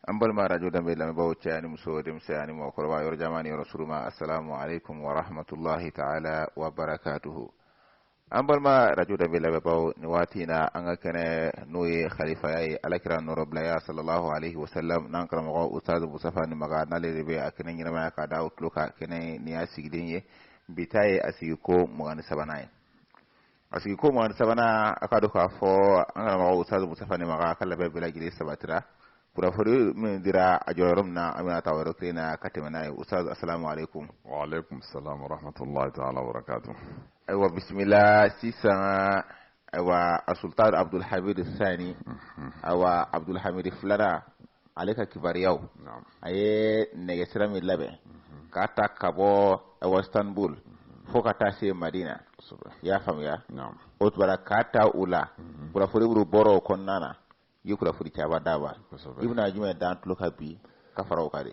an balima radio danbe lamɛnbaaw cɛ ani muso denmisɛn ani mɔgɔkɔrɔba yɔrɔ janman ni yɔrɔ surunman assalamu alaikum wa rahmatullahi taala wa barakatuhu an balima radio danbe lamɛnbaaw ni waati in na an ka kɛnɛ n'o ye khalifaya ye ala kira nɔrɔbilaya sallallahu alaihi wasallam n'an karamɔgɔ ustadu mustafa nimaga n'ale de bɛ a kɛnɛ ɲɛnamaya ka da aw tulo kan kɛnɛ nin y'a sigilen ye bi ta ye a sigiko mugan ni sabanan ye A sigiko mugan ni sabanan a k'a dɔn k'a fɔ an karamɔgɔ Ustazu Mustafa Nimaga ka labɛn bɛɛ lajɛlen sabatira kunnafoni min dira a jɔra yɔrɔ min na an bɛna ta o yɔrɔ kelen na ka tɛmɛ n'a ye Ustazu asalamu aleykum. Wa aleykum salam wa rahmatulahi taala wa barakatuhu. Ayiwa bisimila sisan ayiwa asulutan Abudul Hamidi Sani ayiwa Abudul Hamidi filanan ale ka kibaruyaw a ye nɛgɛ sira min labɛn k'a ta ka bɔ awa istanbul fo ka taa se madina i y'a faamuya o tun b'a la k'a ta u la kunnafoni buru bɔra o kɔnɔna na i ye kunnafoni camanba daba i bɛna jumɛn da an tulo kan bi ka fara o kan dɛ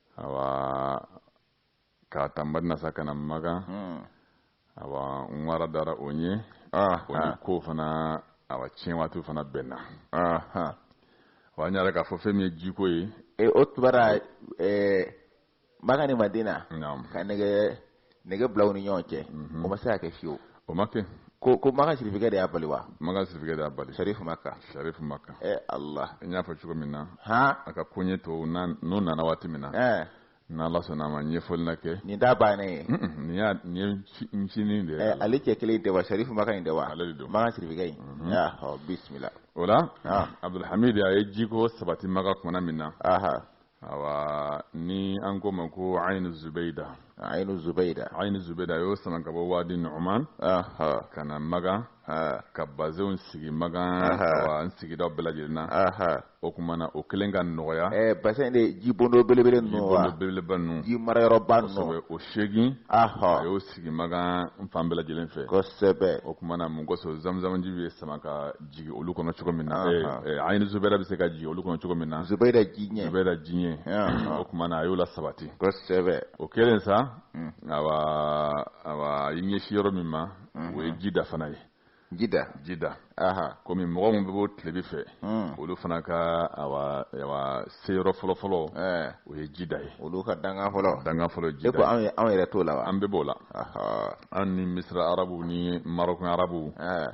awa k'a ta madina sa ka na magan hmm. awa n wara dara o ɲɛ ah, o ni ah. ko fana awa tiɲɛ waati fana bɛnna ah, wa n yɛrɛ k'a fɔ fɛn min ye jiko ye e, o tun b'a la eh, magan ni madina ka nɛgɛ nɛgɛ bila u ni ɲɔgɔn cɛ o ma se ka kɛ fiyewu o ma kɛ ko makan sirifikɛ de y'a bali wa makan sirifikɛ de y'a bali sarifu makka sarifu makka ɛ ala n y'a fɔ cogo min na hɔn a ka koɲɛ to n'o nana waati min na ɛɛ n'ala sɔnna a ma ɲɛfɔli na kɛ nin t'a bannen ye nin y'a nin ye ncinin de ye ale cɛ kelen tɛ wa sarifu makka in tɛ wa ale de don makan sirifikɛ in ɔ bisimila o la abdulhamid a ye jiko sabati makan kumana min na awa ni an k'o ma ko ainu zubeida ainu zubeida ainu zubeida a y'o sama ka bɔ wadi numan ka na magan ka basɛnw sigi magan awa n sigida bɛɛ lajɛlen na o tuma na o kelen ka nɔgɔya eh, basɛn de jibondo belebele ninnu jibondo belebeleba ninnu ji marayɔrɔba ninnu kosɛbɛ o seegin a y'o sigi magan n fan bɛɛ lajɛlen fɛ kosɛbɛ o tuma na mun kosɔn zamzamji bɛ sama ka jigin olu kɔnɔ cogo min na Anhan. eh, eh, ainu zubaida bɛ se ka jigin olu kɔnɔ cogo min na zubaida ji in zubaida ji in Anhan. o tuma na a y'o lasabati kosɛbɛ o kɛlen sa Mm. awa awa a y'i ɲɛsin yɔrɔ min ma o ye jida fana ye jida jida aha komi mɔgɔ min bɛ bɔ tilebin fɛ Mm. olu fana ka awa awa se yɔrɔ fɔlɔfɔlɔ Eh, o ye jida ye olu ka dankan fɔlɔ dankan fɔlɔ e ko jida anw ye- anw yɛrɛ t'o la wa an bɛɛ b'o la an ni misira arabu ni marɔkun arabu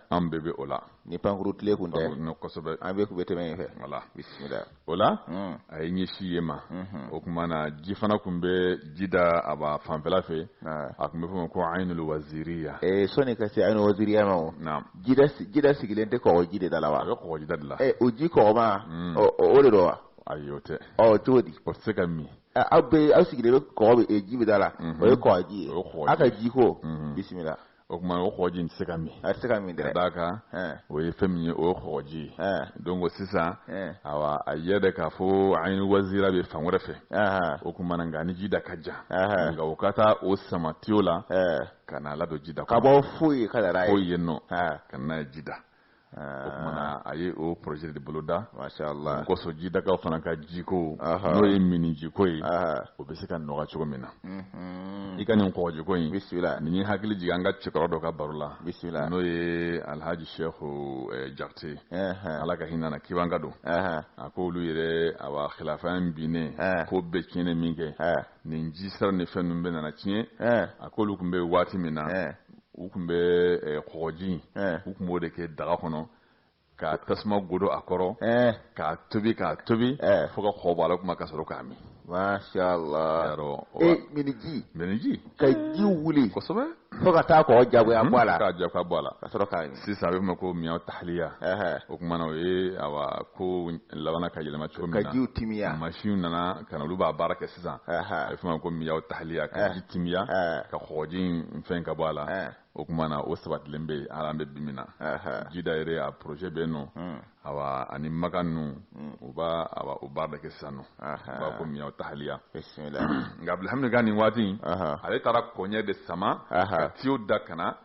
an bɛɛ bɛ o la ni pankuru tile kun tɛ kosɛbɛ an bɛɛ kun bɛ tɛmɛ yen fɛ voilà o la hmm. a ye ɲɛsin yen ma hmm. o kuma na ji fana kun bɛ jida a ba fanfɛla fɛ a kun bɛ fɔ ma ko ayinul waziriya ee sɔni ka se ayinul waziriya ma o jida sigilen tɛ kɔgɔ ji de da la wa a bɛ kɔgɔ ji da de la o ji kɔgɔma hmm. o de don wa ayi o tɛ ɔ cogo di o tɛ se ka min Ɛ, aw bɛ aw sigilen bɛ kɔgɔ bɛ- e, ji bɛ da la Mhm. o ye kɔgɔji ye O ye kɔgɔji. aw ka ji ko Mhm. bisimila o kuma o kɔgɔji in tɛ se ka min a tɛ se ka min dɛ ka d'a kan Ɛn, o ye fɛn min ye o ye kɔgɔji ye ɛn, donc sisan ɛn, awa a y'a yira k'a fɔ ayinul waziriya bɛ fan wɛrɛ fɛ ahan, o kuma na nka a ni jida ka jan Ɛhɛn. nka o ka taa o sama tiyo la ɛn. ka n'a ladon jida ka bɔ fo yen ka na n'a ye fo yen nɔ Ɛn, ka n'a ye jida Ah. O kumana a ye o projet de boloda masha Allah kosɔn jidakaw fana ka jiko n'o ye minnijiko ye o bɛ se ka nɔgɔya cogo min na mhm. i ka nin kɔgɔjiko in bisimila nin ye hakili jigin an ka cɛkɔrɔ dɔ ka baro la bisimila n'o ye Alhaji Shehu eh, Jakite Ala ka hinɛ na kibanka don a k'olu yɛrɛ awa khilafa in binnen ko bɛɛ tiɲɛnen minkɛ nin ji sira ni fɛn ninnu bɛɛ nana tiɲɛ a k'olu kun bɛ waati min na u kun bɛ kɔgɔji u kun b'o de kɛ daga kɔnɔ ka tasuma don a kɔrɔ k'a tobi k'a tobi fo ka kɔgɔ bɔ a la o kuma ka sɔrɔ k'a min minniji ka ji wuli fo ka taa kɔgɔ jagoya bɔ a la ka jagoya bɔ a la ka sɔrɔ k'a min sisan a bɛ fɔ ma ko miya tahliya o kuma na o ye awa ko labanna ka yɛlɛma cogo min ka ji timiya masinw nana ka na olu b'a baara kɛ sisan a bɛ fɔ ma ko miya tahliya ka ji timiya ka kɔgɔji fɛn ka bɔ a la o kuma na o sabatilen bɛ hali an bɛ bi min na jida yɛrɛ a projet bɛ yen nɔ awa ani makan ninnu u b'a o baara de kɛ sisan u b'a ko miya tahliya nka bilhaki nin waati ale taara kɔɲɛ de sama ka tiyo da ka na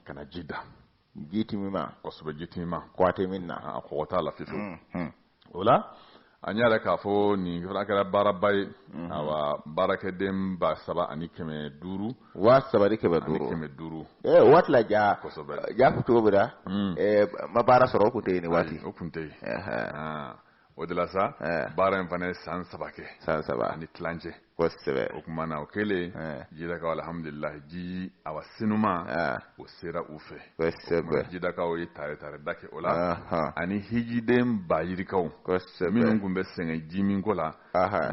ka na jida ji timiman kosɛbɛ ji timiman kɔgɔ t'a la fewu o la an y'a yira k'a fɔ nin fana kɛra baaraba ye mhm. awa baarakɛden ba saba ani kɛmɛ duuru waa saba ni kɛmɛ duuru kɛmɛ duuru o waati la ja kosɛbɛ ja cogo min na mm. eh, maa baara sɔrɔ o kun tɛ yen nin waati o kun tɛ yen ah. o de la sa eh. baara in fana ye san saba kɛ san saba ani tilancɛ kosɛbɛ o kuma na o kɛlen eh. jidakaw alhamdulilah ji awa sanuman eh. o sera u fɛ kosɛbɛ jidakaw ye tare tare da kɛ o la ani hijiden bayirikaw kosɛbɛ minnu kun bɛ sɛgɛn ji min ko la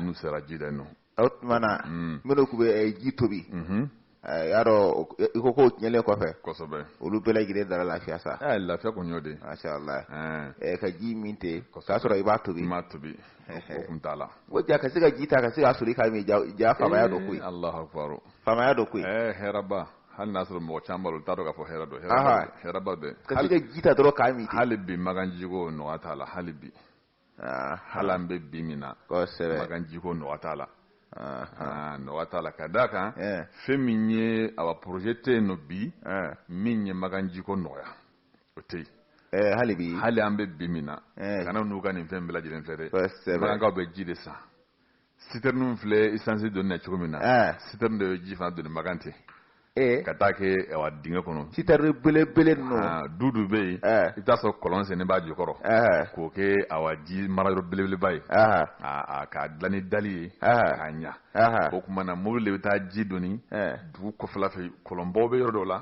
n'u sera jida yen nɔ o tuma na minnu kun bɛ ji tobi Eh, y'a dɔn i ko k'o tiɲɛlen kɔfɛ kosɛbɛ olu bɛɛ lajɛlen dara lafiya sa eh, lafiya kun y'o de masha Allah eh. ka ji min ten k'a sɔrɔ i m'a tobi i m'a tobi o kun t'a la o ja ka se ka ji ta ka se k'a soli k'a min jaa faamaya don koyi Allahu akbar faamaya don koyi hɛrɛba hali n'a sɔrɔ mɔgɔ caman b'a la u t'a dɔn k'a fɔ hɛrɛ don hɛrɛba bɛ ka se ka ji ta dɔrɔn k'a min ten hali bi makan jiko nɔgɔya t'a la hali bi ah, hali an bɛ bi min na makan jiko nɔgɔya t'a la ah, ah. nɔgɔya t'a la ka d'a kan eh. fɛn min ye awa projet tɛ yen nɔ bi eh. min ye makan jiko nɔgɔya o tɛ yen eh, hali bi hali an bɛ bi min na kana n'u ka nin fɛn bɛɛ lajɛlen fɛ dɛ makankaw bɛ ji de san sitɛriniw filɛ isansi doni na cogo min na eh. sitɛrini de bɛ ji fana doni makan ten eh. ka taa kɛ awa dingɛ kɔnɔ sitɛrini belebele ninnu ah, du du bɛ yen eh. i bɛ taa sɔrɔ kɔlɔn sennen b'a jukɔrɔ k'o kɛ awa ji mara yɔrɔ belebeleba ye k'a dilan ni dali ye k'a ɲa o tuma na mobili de bɛ taa ji doni dugu kɔfɛla fɛ kɔlɔnbaw bɛ yɔrɔ dɔw la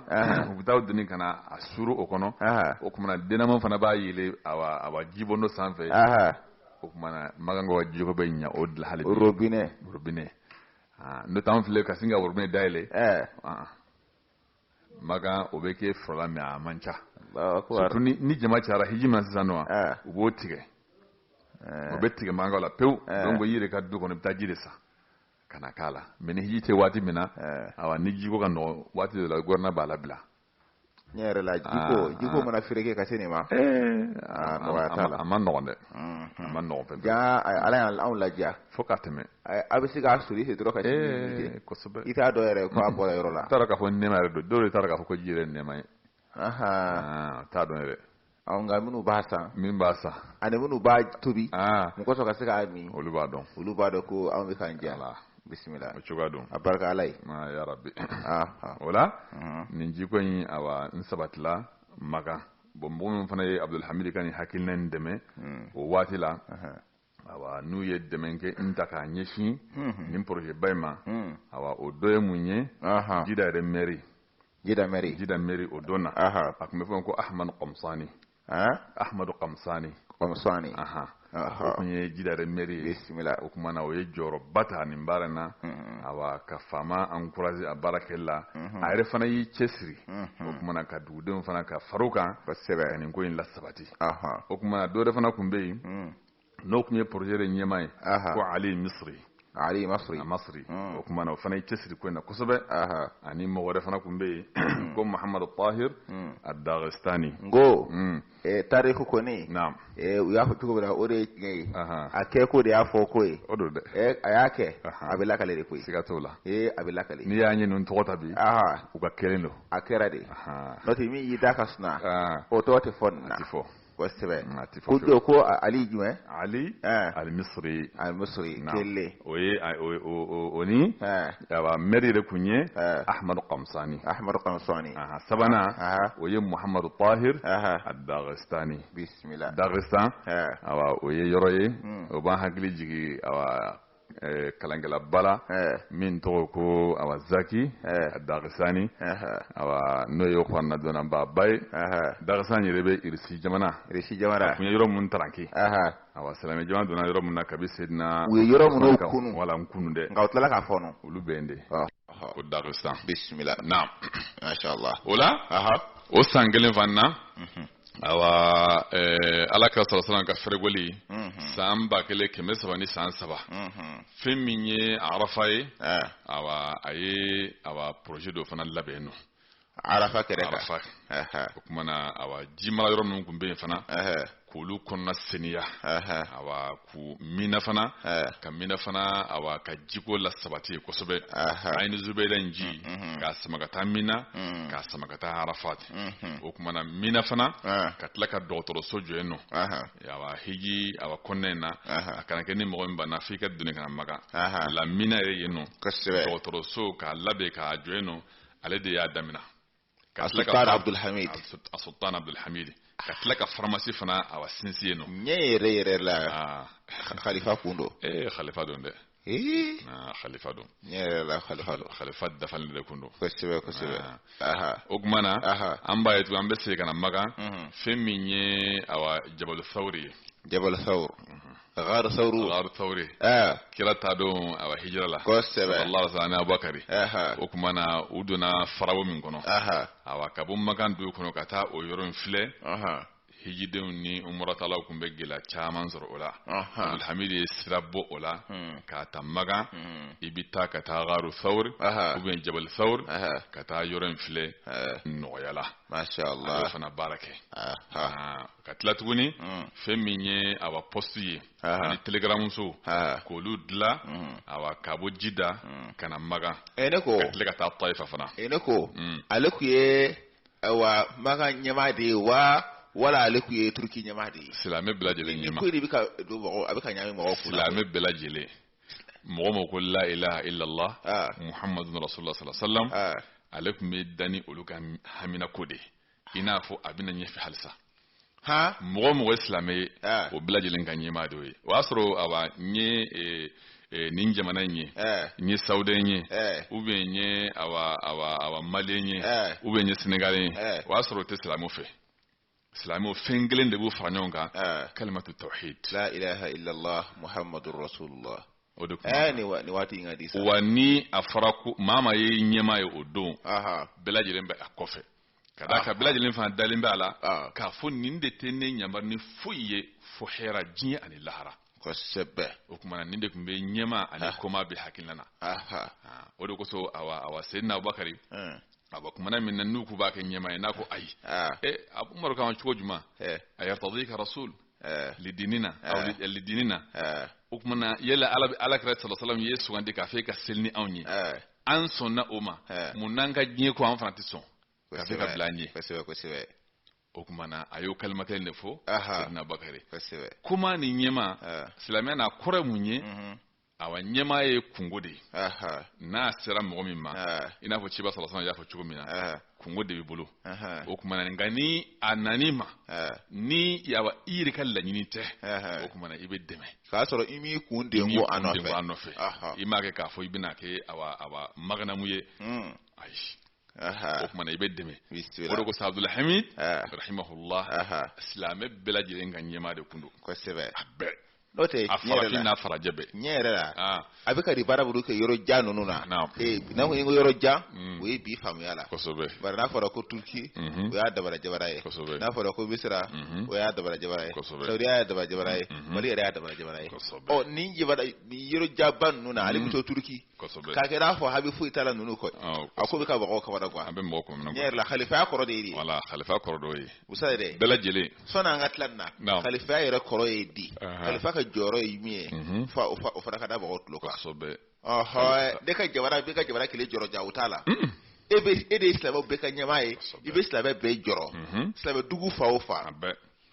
u bɛ taa doni ka na a suru o kɔnɔ o tuma na dinamo fana b'a yɛlɛ awa jibondo sanfɛ o tuma na makankaw ka jiko bɛ ɲa o de la hali bi robinet robinet ah, n'o tɛ an filɛ ka sin ka robinet dayɛlɛ ɛɛ ah, makan o bɛ kɛ fɔlɔ la mais a man ca Allahu akbar. surtout ni ni jama cayara hiji ma sisan nɔ Ah. u b'o tigɛ o bɛ tigɛ makankaw la pewu Eh. donc i yɛrɛ ka du kɔnɔ i bɛ taa ji de san ka na k'a la mais ni hiji tɛ waati min na Eh. awa ni jiko ka nɔgɔn waati dɔ la gouvernement b'a labila ne yɛrɛ la jiko ah, jiko ah. mana fereke ka se nin ma eh, ah, nɔgɔya t'a la a man nɔgɔn dɛ mm-hmm. a man nɔgɔn fɛn jaa ala y'anw ladiya fo ka tɛmɛ a bɛ se k'a soli se dɔrɔn ka eh, kosɛbɛ i t'a dɔn yɛrɛ ko a bɔra yɔrɔ la t'a dɔn k'a fɔ nɛma yɛrɛ don dɔw de t'a dɔn k'a fɔ ko ji yɛrɛ nɛma ye t'a dɔn yɛrɛ Nka minnu b'a san min b'a san ani minnu b'a tobi a min kosɔn ka se k'a min olu b'a dɔn olu b'a dɔn ko anw bɛ ka jɛ la bisimila o cogoya don a barika ala ye ya rabbi o la nin jiko in awa n sabatila makan bon mɔgɔ min fana ye abudulhamidi ka nin hakilina dɛmɛ o waati la awa n'u ye dɛmɛ kɛ n ta k'a ɲɛsin nin porozɛba in ma awa o dɔ ye mun ye jida yɛrɛ mɛri jida mɛri jida mɛri o don na a tun bɛ fɔ ko ahamadu kɔmsani ahamadu kɔmsani kɔmsani o tun ye jida yɛrɛ mɛri ye bisimila o tuma na o ye jɔyɔrɔba ta nin baara in na awa ka faama encourager a baara kɛli la a yɛrɛ fana y'i cɛsiri o tuma na ka dugudenw fana ka far'o kan kosɛbɛ ka nin ko in lasabati o tuma dɔ wɛrɛ fana tun bɛ yen hmm. n'o tun ye projet de ɲɛmaa ye ko Ali Misiri Ali Masri a Masri hmm. o tuma na o fana ye cɛsiri ko in na kosɛbɛ ani mɔgɔ wɛrɛ fana tun bɛ yen hmm. ko Muhamadu Tahir ad-Dagestani n ko eh, tariku kɔni naam eh, u y'a fɔ cogo min na o de ye tiɲɛ ye a kɛko de y'a fɔko ye o don dɛ eh, a y'a kɛ a bɛ lakali de koyi siga t'o la a bɛ lakali n'i y'a ye ninnu tɔgɔ ta bi u ka kɛlen don a kɛra de n'o tɛ min y'i da ka suma o tɔgɔ tɛ fɔ nin na a tɛ fɔ kosɛbɛ ko don ko ali jumɛn ali alimisiri alimisiri kelen o ye o ni awa mɛri de tun ye ahamadu kamisani ahamadu kamisani sabanan o ye muhamadu tahir ad-dagestani bisimila dagestan o ye yɔrɔ ye o b'an hakili jigin Eh, kalankɛlaba la eh. min tɔgɔ ko awa zaki eh. dagistani awa n'o ye kuranɛ dɔnnaba ba ye dagistan yɛrɛ bɛ irisi jamana irisi jamana a tun ye yɔrɔ minnu taranki awa silamɛ jama donna yɔrɔ min na kabi sedina u ye yɔrɔ minnu kunu wala n kunu dɛ nka u tilala k'a fɔɔnɔ olu bɛ yen de ah. ko dagistan bisimila naam masha Allah o la o san kelen fana na mhm. awa eh, ala kira sallallahu ka fɛrɛgoli san ba kelen kɛmɛ saba ni san saba fɛn min ye arafa ye eh. awa a ye awa projet dɔ fana labɛn nɔ arafa kɛrɛ kan arafa o kuma na awa ji mara yɔrɔ minnu tun bɛ yen fana k'olu kɔnɔna seniya awa k'u mina fana eh. ka mina fana awa ka jiko lasabati yen kosɛbɛ ayini zubeda in ji mm, mm, mm. k'a sama ka taa mina k'a sama ka taa arafat mm-hmm. o kuma na mina fana eh. ka tila ka dɔgɔtɔrɔso jɔ yen nɔ awa hiji awa kɔnɔna in na a kana kɛ ni mɔgɔ min banna f'i k'a doni ka na makan la mina yɛrɛ yen nɔ dɔgɔtɔrɔso k'a labɛn k'a jɔ yen nɔ ale de y'a damina sultan abdulhamid a sultan abdulhamid ka tila ka faramasi fana awa sinsin yen nɔ tiɲɛ yɛrɛ yɛrɛ la khalifa kun don ee khalifa don dɛ khalifa don tiɲɛ yɛrɛ la khalifa don khalifa dafalen de kun don kosɛbɛ kosɛbɛ o tuma na an b'a ye tugun an bɛ segin ka na makan fɛn min ye awa jabal sawuri ye jabal sawuri ghar sauru ghar sauri eh kira taa don awa hijira la kosɛbɛ ale ni abubakari eh o kuma na u donna farawo min kɔnɔ eh awa ka bɔ makan dugu kɔnɔ ka taa o yɔrɔ in filɛ eh hijidenw ni umuratalaw kun bɛ gɛlɛya caman sɔrɔ o la abdulhamid ye sira bɔ o la hmm. k'a ta makan hmm. i bɛ taa ka taa garu sawuri ou bien jabali sawuri ka taa yɔrɔ in filɛ nɔgɔya la Masha Allah. Ale fana baara kɛ. Ah, ka tila tuguni mm. fɛn min ye awa poste ye ani telegaramuso k'olu dila mm. awa ka bɔ jida mm. ka na magan eh, ne ko ka tila ka taa tayifa fana eh, ne ko ale kun ye awa magan ɲɛmaa de ye wa wala ale kun ye turuki ɲɛmaa de ye silamɛ bɛɛ lajɛlen ɲɛmaa ko de bɛ ka don mɔgɔ a bɛ ka ɲagami mɔgɔw kun silamɛ bɛɛ lajɛlen mɔgɔ mɔgɔ ko la ilaha illallah ah. muhammadu rasulullah sallallahu alaihi wasallam ah. ale kun bɛ da ni olu ka hamina ko de i n'a fɔ a bɛna ɲɛfɛ halisa mɔgɔ mɔgɔ ye silamɛ ye ah. o bɛɛ lajɛlen ka ɲɛmaa de ye o y'a sɔrɔ awa n ye eh, eh, nin jamana in ye n ye sawudɛn ye ou bien n ye awa awa awa maliyɛn ye ou bien n ye senegaliyɛn ye o y'a sɔrɔ o tɛ silamɛw fɛ silamɛw fɛn kelen de b'u fara ɲɔgɔn kan kalimatu tawhid la ilaha illallah muhammadur rasulullah o de kuma eh, ni waati in ka di sa wa ni a fɔra ko maa maa ye ɲɛmaa ye o don bɛɛ lajɛlen bɛ a kɔfɛ ka d'a kan bɛɛ lajɛlen fana dalen b'a la k'a fɔ nin de tɛ ne ɲamari ni foyi ye fo hɛra diɲɛ ani lahara kosɛbɛ o tumana nin de kun bɛ ɲɛmaa ani ah. kɔmaa bɛ hakilina na ah, o de kosɔn awa awa seyidina abubakari eh. awa kumana min na n'u k'u b'a kɛ ɲɛmaa ye n'a ko ayi ah. eh, a ko umaru k'an cogo jumɛn eh. a yartadika rasul lidinina lidinina o tumana yala ala ala kira sallallahu alaihi wasallam y'i sugandi k'a fɛ ka seli ni anw ye an sɔnna o ma mun n'an ka diɲɛ ko an fana tɛ sɔn ka se ka bila an ɲɛ kosɛbɛ kosɛbɛ o tumana a y'o kalima kelen de fɔ abubakari kuma ni ɲɛmaa silamɛya na a kɔrɔ mun ye mhm. awa ɲɛmaa ye kunko de ye n'a sera mɔgɔ min ma i n'a fɔ ciba sallallahu alaihi wasallam y'a fɔ cogo min na kunko de b'i bolo o tuma nka ni a nan'i ma ni a i yɛrɛ ka laɲini tɛ o tuma i bɛ dɛmɛ k'a sɔrɔ i m'i kun den ko a nɔfɛ i m'a kɛ k'a fɔ i bɛna kɛ awa maganamu ye hmm. ayi o tumana i bɛ dɛmɛ o de ko sa abdulhamid rahimahullah silamɛ bɛɛ lajɛlen ka ɲɛmaa de kun don kosɛbɛ a bɛɛ n'o tɛ a farafin n'a farajɛ bɛɛ ɲɛ yɛrɛ la a bɛ ka di baara bolo kɛ yɔrɔ jan ninnu na n'a ko i ko yɔrɔ jan o ye bi faamuya la kosɛbɛ bari n'a fɔra ko turuki o y'a dabara jabara ye kosɛbɛ n'a fɔra ko misira o y'a dabara jabara ye kosɛbɛ sawudiya y'a dabara jabara ye mali yɛrɛ y'a dabara jabara ye kosɛbɛ ɔ ni yɔrɔ janba ninnu na ale bɛ to turuki kosɛbɛ k'a kɛ n'a fɔ hami foyi t'a la ninnu kɔ a ko bɛ ka mɔgɔw kabada quoi a bɛ mɔgɔw kɔnɔ ne yɛrɛ la kalifaya kɔrɔ de ye di wala kalifa kɔrɔ dɔ ye usa yɛrɛ bɛɛ lajɛlen sani an ka tila nin na kalifaya yɛrɛ kɔrɔ ye di kalifa ka jɔyɔrɔ ye mun ye mhm. fo o fana ka da mɔgɔw tulo kan kosɛbɛ ɔhɔn ne ka jamana bɛ ka jamana kelen jɔrɔ ja o t'a la mm. e bɛ e de ye silamɛw bɛɛ ka ɲɛmaa ye i bɛ silamɛ bɛɛ jɔrɔ mhm. silamɛ dugu fan o fan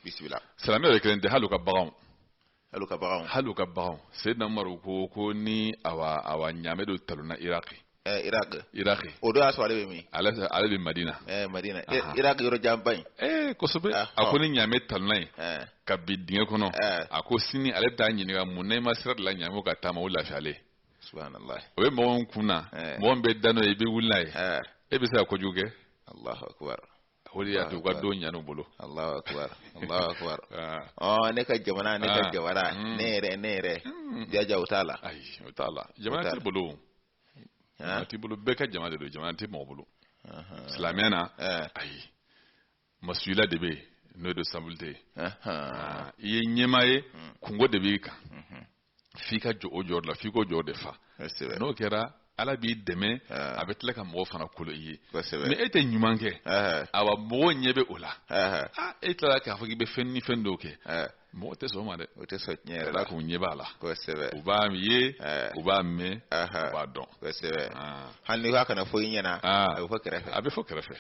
bisimila silamɛ yɛrɛ kelen tɛ hali u ka baganw hali u ka baganw hali u ka baganw seyidina umaru ko ko ni awa awa ɲaamɛ dɔ talonna iraki eh, iraki iraki o do y'a sɔrɔ ale bɛ min ale ale bɛ madina eh, madina eh, iraki yɔrɔ janba in eh, kosɛbɛ ah, a ko ni ɲaamɛ talonna yen eh. ka bin dingɛ kɔnɔ eh. a ko sini ale bɛ taa ɲininka mun na i ma sira dilan ɲaamɛw ka taama o lafiyalen subhanallah o bɛ mɔgɔw kun na eh. mɔgɔ min bɛ da n'o ye i bɛ wuli n'a ye eh. e bɛ se ka kojugu kɛ alahu akubar o de y'a to u ka don ɲan'u bolo Allahu akbar Allahu akbar ah. ɔ ne ka jamana ne ka ah. jamana hmm. ne yɛrɛ ne yɛrɛ hmm. jaja o t'a la ayi o t'a la jamana t'i bolo jamana t'i bolo bɛɛ ka jamana de don jamana tɛ mɔgɔ bolo silamɛya na eh. ayi masuliya de bɛ yen n'o ye responsabilité ye i ye ɲɛmaa ye hmm. kunko de b'i kan f'i ka jɔ o jɔyɔrɔ la f'i k'o jɔyɔrɔ de fa n'o kɛra ala b'i dɛmɛ a bɛ tila ka mɔgɔ fana kolo i ye mais e tɛ ɲuman kɛ awa mɔgɔ ɲɛ bɛ o la e tilala k'a fɔ k'i bɛ fɛn ni fɛn dɔw kɛ mɔgɔ tɛ sɔn o ma dɛ o tɛ sɔn tiɲɛ yɛrɛ la k'u ɲɛ b'a la kosɛbɛ u b'a ye u b'a mɛn u b'a dɔn kosɛbɛ hali n'i k'a kana fɔ i ɲɛna a bɛ fɔ kɛrɛfɛ a bɛ fɔ kɛrɛfɛ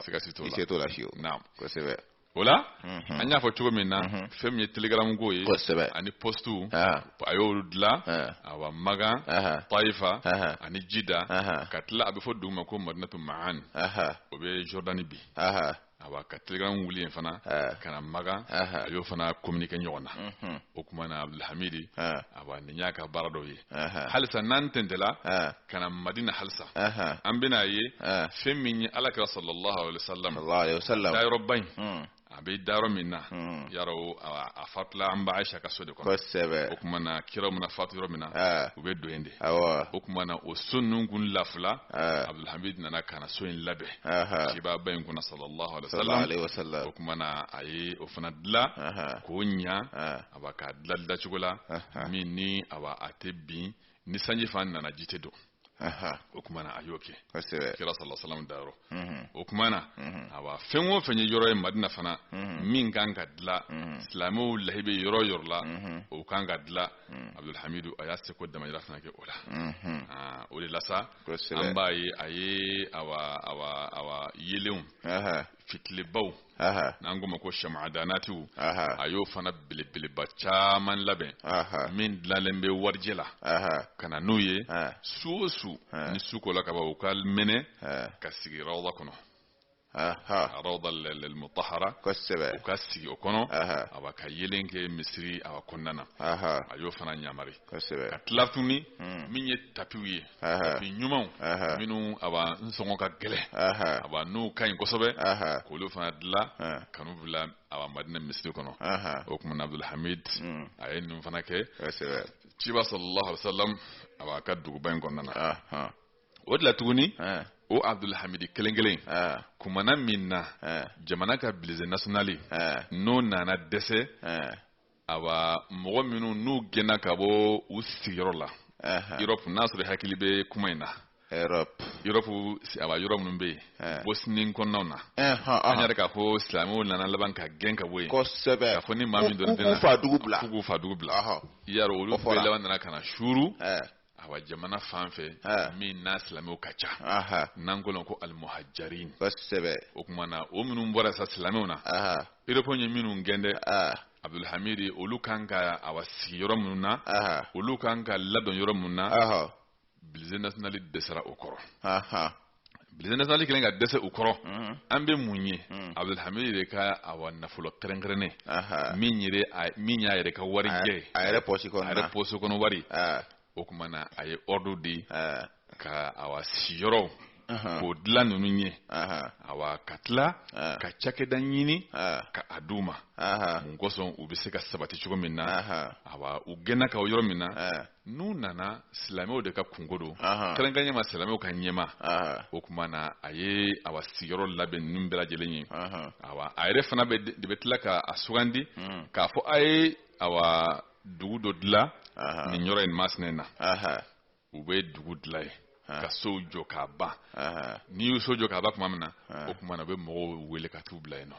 siga si t'o la i se t'o la fiyewu naamu kosɛbɛ o la mhm. an y'a fɔ cogo min na mhm. fɛn min ye telegram ko ye ani postu ah. a y'olu dilan ah. awa magan ah. taifa ani jida ka tila a bɛ fɔ dugu ma ko madinatu ma'an o bɛ jordani bi awa ka telegram wuli yen fana ka na magan a y'o fana communiquer ɲɔgɔn na mhm. o tuma na abdulhamidi awa nin y'a ka baara dɔw ye halisa n'an tɛntɛla ka na madina halisa an bɛna a ye fɛn min ye ala kira sallallahu alaihi wasallam dayɔrɔba in hmm. a bɛ dayɔrɔ min na hmm. yarɔ a fatula an ba ayisa ka so de kɔnɔ kosɛbɛ o tuma na kira mana fatu yɔrɔ min na u bɛ don yen de o tuma na o so ninnu kun lafula abdulhamid nana ka na so in labɛn kubaba in kunna sallallahu alaihi wasallam o tuma na a ye o fana dilan k'o ɲa awa k'a dilan dilancogo la min ni awa a tɛ bin ni sanji fana nana ji tɛ don o tuma na a y'o kɛ kira sallallahu alaihi wasallam dayɔrɔ mhm. o tuma na mhm. awa fɛn o fɛn ye yɔrɔ ye madina fana mhm. min kan ka dilan silamɛw lahi bɛ yɔrɔ o yɔrɔ la o kan ka dilan abudulhamidu a y'a seko damayira fana kɛ o la ah, o de la sa an b'a ye a ye awa awa awa yeelenw fitilibaw n'an k'o ma ko shamadanatiw a y'o fana belebeleba caman labɛn min dilalen bɛ warijɛ la ka na n'u ye su o su ni su kola ka ban u ka mɛnɛ ka sigi rawda kɔnɔ rawda al-mutahhara kosɛbɛ u ka sigi o kɔnɔ awa ka yeelen kɛ misiri awa kɔnɔna na a y'o fana yamari kosɛbɛ ka tila tuguni hmm. min ye tapiw ye tapi ɲumanw minnu a b'a n sɔngɔ ka gɛlɛn a b'a n'u ka ɲi kosɛbɛ k'olu fana dilan ka n'u bila a b'a madina misiri kɔnɔ o tuma na abdulhamid hmm. a ye ninnu fana kɛ ciba sallallahu alaihi wa sallam a b'a ka duguba in kɔnɔna na o de la tuguni o abdulhamidi kelen kelen kumana min na jamana ka budget national n'o nana dɛsɛ awa mɔgɔ minnu n'u gɛnna ka bɔ u sigiyɔrɔ la europe n'a sɔrɔ i hakili bɛ kuma in na europe europe awa yɔrɔ minnu bɛ yen eh. bosnie kɔnɔnaw na an y'a yira k'a fɔ silamɛw nana laban ka gɛn ka bɔ yen kosɛbɛ k'a fɔ ni maa min dɔrɔn tɛna k'u k'u fa dugu bila k'u k'u fa dugu bila y'a sɔrɔ olu bɛɛ laban nana ka na suuru eh. awa jamana fan fɛ min na silamɛw ka ca n'an ko ko alimuhajirin kosɛbɛ o tuma na o minnu bɔra sa silamɛw na europe ye minnu gɛn dɛ abdulhamidi olu kan ka awa sigi yɔrɔ minnu na olu kan ka ladon yɔrɔ minnu na budget national dɛsɛra o kɔrɔ budget national kelen ka dɛsɛ u kɔrɔ an bɛ mun ye abdulhamid de ka awa nafolo kɛrɛnkɛrɛnnen min min y'a yɛrɛ ka wari jɛ a yɛrɛ pɔsi kɔnɔ a yɛrɛ pɔsi kɔnɔ wari o tuma na a ye ɔrdu di ka awa siyɔrɔw k'o dilan ninnu ye awa ka tila ka cakɛda ɲini ka a d'u ma mun kosɔn u bɛ se ka sabati cogo min na awa u gɛnna ka bɔ yɔrɔ min na n'u nana silamɛw de ka kunko don kɛrɛnkɛrɛnya ma silamɛw ka ɲɛmaa o tuma na a ye awa sigiyɔrɔ labɛn ninnu bɛɛ lajɛlen ye awa a yɛrɛ fana bɛ de bɛ tila k'a sugandi hmm. k'a fɔ a ye awa dugu dɔ dilan nin yɔrɔ in masina in na u bɛ dugu dilan ye ka sow jɔ k'a ban n'i y'u so jɔ k'a ban tuma min na o tuma na u bɛ mɔgɔw wele ka t'u bila yen nɔ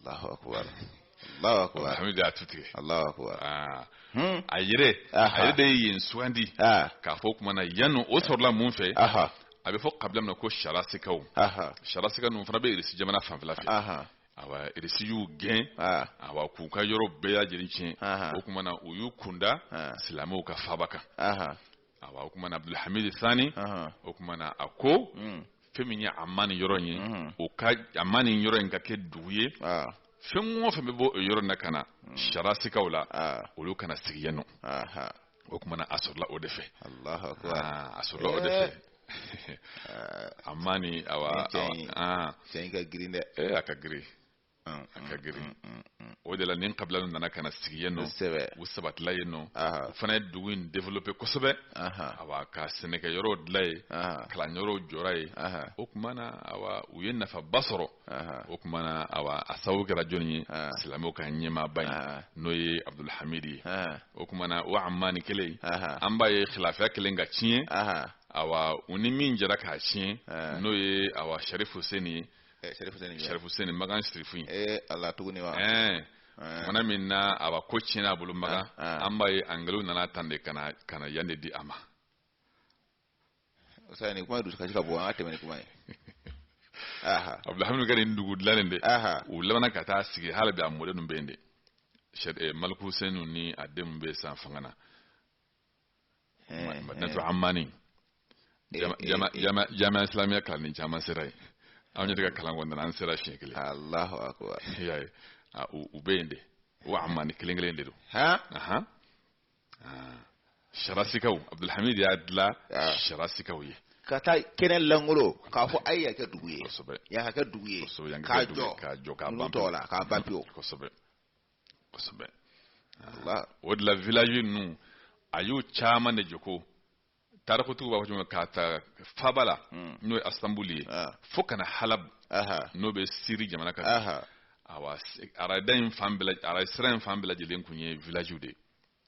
Allahu akbar Allahu akbar Abdulhamid y'a tu tigɛ Allahu akbar ah. hmm. a yɛrɛ a yɛrɛ de ye yen sugandi k'a fɔ o tuma na yanni o sɔrɔla mun fɛ a bɛ fɔ kabila min na ko sarasikaw sarasika ninnu fana bɛ irisi jamana fanfɛla fɛ awa irisi y'u gɛn awa k'u ka yɔrɔ bɛɛ lajɛlen tiɲɛ o tuma na u y'u kunda silamɛw ka faaba kan awa o tumana abdulhamid sani Ahan. o tumana a ko Mm. fɛn min ye Amani yɔrɔ in ye Mhm. o ka Amani yɔrɔ in ka kɛ dugu ye Ah. fɛn o fɛn bɛ bɔ o yɔrɔ in na ka na sarasikaw la Ah. olu ka na sigi yen nɔ Aha. o tumana a sɔrɔla o de fɛ Allahu akbar. Ah, a sɔrɔla o de fɛ Amani awa Ni cɛ in. awa, ah, Cɛ in ka girin dɛ. eh, a ka girin a ka girin o de la nin kabila ninnu nana ka na sigi yen nɔ u sabatila yen nɔ u fana ye dugu in développé kosɛbɛ awa ka sɛnɛkɛ yɔrɔw dilan yen kalan yɔrɔw jɔra yen o tuma na awa u ye nafaba sɔrɔ o tuma na awa a sababu kɛra jɔni ye silamɛw ka ɲɛmaaba in n'o ye Abdulhamid ye o tuma na o Amani kelen an b'a ye khilafiya kɛlen ka tiɲɛ awa u ni min jɛra k'a tiɲɛ n'o ye awa Sharif Huseni ye Sharif Huseni Makan Sharifu in ala tuguni wa mana min na awa ko tiɲɛna a bolo Makan an b'a ye Angilɛw nana tan de ka na yan de di a ma o sa nin kuma dusukasi ka bon an ka tɛmɛ ni kuma ye Abdulhamid ka nin dugu dilannen de u labanna ka taa sigi hali bi a mɔden ninnu bɛ yen de Maliku Huseni ni a denw bɛ sisan fanga na Natu Amani jamiya islamiya kalanden caman sera yen anw yɛrɛ ka kalan kɔnɔna an sera siɲɛ kelen Alahu akubar u bɛ yen de o Amani kelen kelen de don sarasikaw Abdulhamid y'a dilan sarasikaw ye ka taa kɛnɛ lankolon k'a fɔ a ye yan kɛ dugu ye yan ka kɛ dugu ye k'a jɔ k'a jɔ k'a ban pewu k'a ban pewu kosɛbɛ kosɛbɛ o de la village ninnu a y'u caman de jɔ ko tarikutigiw b'a fɔ cogo min k'a ta faaba la hmm. n'o ye Istanbul ye ah. fo ka na Halab n'o bɛ Siri jamana kan awa arada in fan bɛɛ arada sira in fan bɛɛ lajɛlen tun ye village de ye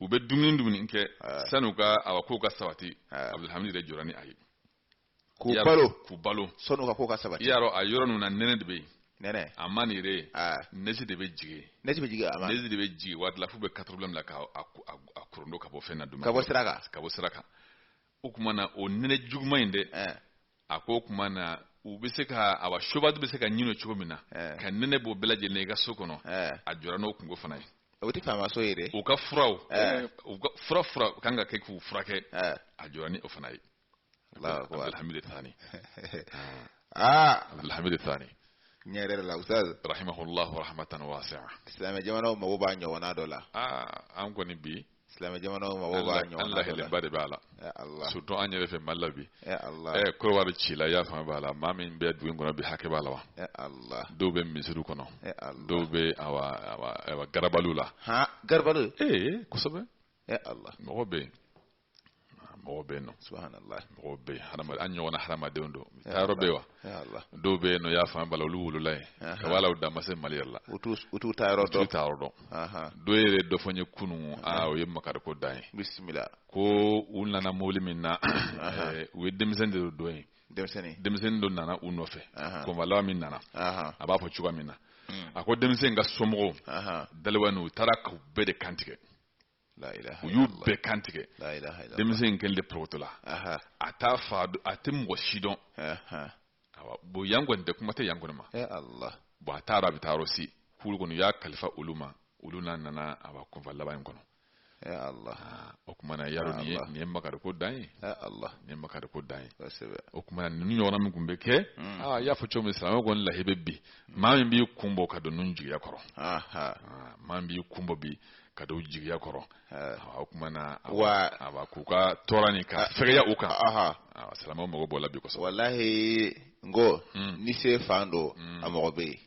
u bɛ dumuni dumuni kɛ ah. sani u ka awa kow ka sabati ah. Abdulhamid de jɔra ni a ye k'u balo k'u balo sani u ka kow ka sabati i y'a dɔn a yɔrɔ ninnu na nɛnɛ de bɛ yen nɛnɛ Amani yɛrɛ ah. nɛji de bɛ jigin nɛji bɛ jigin a ma nɛji de bɛ jigin waati la f'u bɛ katɛrɛpila bila ka a korondo ka bɔ fɛn na dumuni ka bɔ sira kan ka bɔ sira kan o tuma na o nɛnɛ juguman in dɛ eh. a ko o tuma na u bɛ se ka awa sobadu bɛ se ka ɲin'o cogo min na eh. ka nɛnɛ bɔ bɛɛ lajɛlen i ka so kɔnɔ eh. a jɔra n'o kunko fana ye o tɛ faama so ye dɛ u ka furaw u ka fura fura kan ka kɛ k'u furakɛ a jɔra ni o fana ye Abdulhamid Thani aa Abdulhamid Thani ne yɛrɛ la ustaz rahimahullahu rahmatan wasi'a silamɛ jamanaw mago b'a ɲɔgɔnna dɔ la aa an kɔni bi silamɛ jamanaw mago b'a ɲɔgɔnna dɔ la an lahalenba de b'a la surtout an yɛrɛ fɛ Mali la bi ɛ korowari ci la i y'a faamu b'a la maa min bɛ dugu in kɔnɔ bi hakɛ b'a la wa dɔw bɛ misiriw kɔnɔ dɔw bɛ awa awa awa garabaliw la garabaliw ee kosɛbɛ mɔgɔ bɛ yen mɔgɔ bɛ yen nɔ mɔgɔ bɛ yen hadamaden an ɲɔgɔnna hadamadenw don taa yɔrɔ bɛ yen wa dɔw bɛ yen nɔ y'a fanba la olu wolola yen ka b'a la u dan ma se mali yɛrɛ la u t'u taa yɔrɔ dɔn taa yɔrɔ dɔn dɔw yɛrɛ dɔ fɔ n ye kunun aa o ye makari ko dan ye bisimila ko u nana mobili min na u ye denmisɛnnin de don yen denmisɛnnin denmisɛnnin dɔ nana u nɔfɛ convoi laban min nana a b'a fɔ cogoya min na a ko denmisɛnnin ka somɔgɔw daliwa n'u taara k'u bɛɛ de kantigɛ u y'u bɛɛ kantigɛ denmisɛnnin kelen de porotola a t'a fa a tɛ mɔgɔ si dɔn bon yan kɔni tɛ kuma tɛ yan kɔni ma bon a taara a bɛ taa yɔrɔ si kulu kɔnɔ y'a kalifa olu ma olu n'a nana a b'a convoi laban in kɔnɔ o tuma na yaro nin ye nin ye makari ko dan ye nin ye makari ko dan ye o tuma ninnu ɲɔgɔnna min tun bɛ kɛ aa y'a fɔ cogo min silamɛ kɔni lahi bɛ bi maa min b'i kun bɔ ka don ninnu jigiya kɔrɔ maa min b'i kun bɔ bi ka don jigiya kɔrɔ o tuma na wa k'u ka tɔɔrɔ ni ka fɛya u kan silamɛ mago b'o la bi kɔsɔ walahi n ko hmm. ni se fan don hmm. a mɔgɔ bɛ yen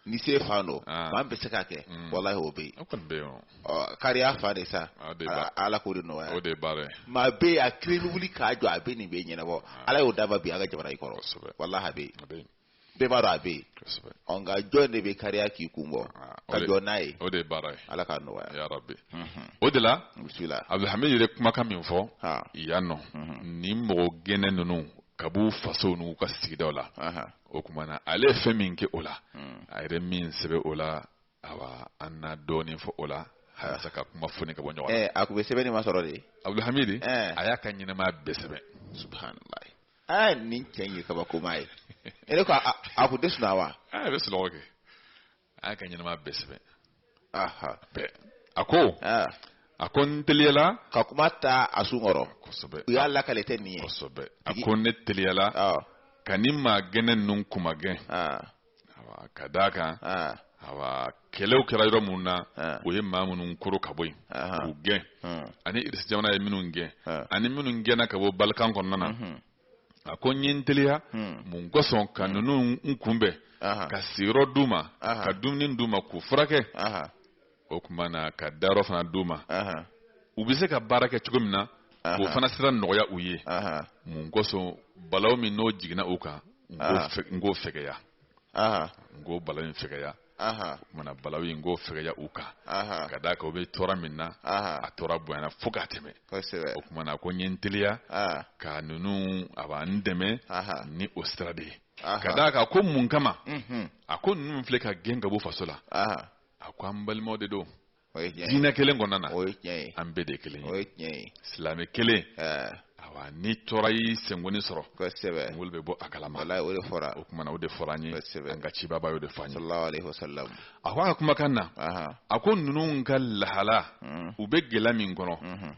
ni se fan don maa bɛ se ka kɛ hmm. walahi o bɛ yen o kɔni bɛ yen kariya fan de sa ala k'o de nɔgɔya o de ye baara ye maa bɛ yen a kelen wuli ka jɔ a bɛ nin bɛɛ ɲɛnabɔ ala y'o d'a ma bi an ka jamana in kɔrɔ walahi a bɛ yen bɛɛ b'a dɔn a bɛ yen kosɛbɛ ɔ nka jɔn de bɛ kariya k'i kun bɔ Ah, ka jɔ n'a ye o de ye baara ye ala k'a nɔgɔya ya rabi Mhm. o de la bisimila abdulhamid yɛrɛ kumakan min fɔ ha yan nɔ Mhm. ni mɔgɔ gɛnnen ninnu ka b'u fasow n'u ka sigidaw la aha o tuma na ale ye fɛn min kɛ o la Mm. a yɛrɛ min sɛbɛn o la awa an na dɔɔnin fɔ o la walasa ka kuma foni ka bɔ ɲɔgɔn na ɛ a tun bɛ sɛbɛnni masɔrɔ de abdulhamid Eh. a y'a ka ɲɛnamaya bɛɛ sɛbɛn subhanallah aa nin cɛ in ye kabakoma ye e ne ko a a kun tɛ sunɔgɔ wa aa a bɛ sunɔgɔ kɛ a y'a ka ɲɛnamaya bɛɛ sɛbɛn aha bɛɛ a ko aa a ko n teliyala ka kuma ta a sun kɔrɔ kosɛbɛ u y'a lakali ten nin ye kosɛbɛ a ko ne teliyala ɔ ka nin maa gɛnnen ninnu k'u magɛn aa ka d' a kan kɛlɛw kɛra yɔrɔ minnu na u ye maa minnu koro ka bɔ yen k'u gɛn ani irisi jamana ye minnu gɛn ani minnu gɛnna ka bɔ balikan kɔnɔna na a ko n ye n teliya mun kosɔn ka ninnu n kunbɛn ka sigiyɔrɔ d' u ma ka dumuni d' u ma k'u furakɛ o tuma na ka dayɔrɔ fana d'u ma u bɛ se ka baara kɛ cogo min na k'o fana sira nɔgɔya u ye mun kosɔn balaw min n'o jiginna u kan n k'o fɛgɛya n k'o balaw in fɛgɛya o tuma na balaw in k'o fɛgɛya u kan ka d'a kan u bɛ tɔɔrɔ min na a tɔɔrɔ bonyana fo ka tɛmɛ o tuma na ko n ye n teliya ka ninnu a b'an dɛmɛ ni o sira de ye ka d'a kan ko mun kama a ko ninnu filɛ ka gɛn ka bɔ faso la a ko an balimaw de don diinɛ kelen kɔnɔna na an bɛɛ de kelen ye silamɛ kelen awa ni tɔɔrɔ y'i senkoni sɔrɔ kosɛbɛ kungolo bɛ bɔ a kalama walayi o de fɔra o kuma na o de fɔra an ye kosɛbɛ an ka cibaba y'o de fɔ an ye sallallahu alaihi wasallam a ko a ka kumakan na a ko ninnu ka lahala u bɛ gɛlɛya min kɔnɔ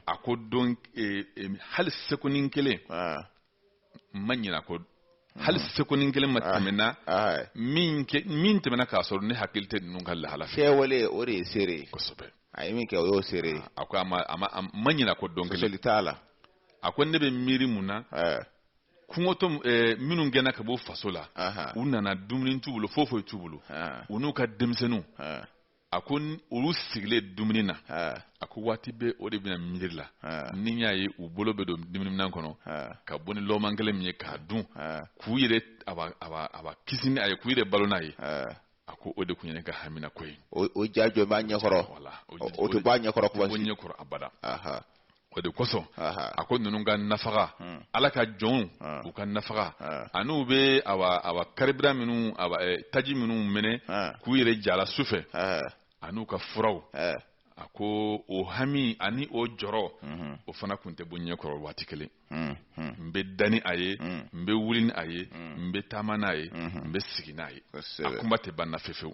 a ko don e, e, hali sekonin kelen ma ɲina ko hali hmm. sekonin kelen ma ah, tɛmɛna ah. min tɛmɛna k'a sɔrɔ ne hakili tɛ ninnu ka lahala fɛ kɛwale o de ye seere ye kosɛbɛ a ye min kɛ o y'o seere ye ah, a ko a ma a ma a ma ɲina ko don kelen t'a la a ko ne bɛ miiri mun na eh. kɔngɔtɔ eh, minnu gɛnna ka bɔ faso la u nana dumuni t'u bolo foyi foyi t'u bolo u n'u ka denmisɛnninw a ko olu sigilen dumuni na a ko waati bɛɛ o de bɛ ne miiri la ni y'a ye u bolo bɛ don dumuniminɛn kɔnɔ ka bɔ ni lɔgɔma kelen min ye k'a dun k'u yɛrɛ awa kisi ni a ye k'u yɛrɛ balo n'a ye a ko o de tun ye ne ka haminanko ye o ja jɔlen b'a ɲɛkɔrɔ o tɛ b'a ɲɛkɔrɔ kuma ɲɛkɔrɔ abada o de kosɔn a ko ninnu ka nafaga hmm. ala ka jɔnw ah. u ka nafaga ah. ani u bɛ awa karibira minnu eh, taji minnu mɛnɛ ah. k'u yɛrɛ ja a la su fɛ ani u ka furaw a ko o hami ani o jɔrɔ mhm. o fana tun tɛ bɔ ɲɛ kɔrɔ waati kelen mhm. n bɛ da ni a ye mhm. n bɛ wuli ni a ye n bɛ taama n'a ye n bɛ sigi n'a ye a kuma tɛ ban na fefewu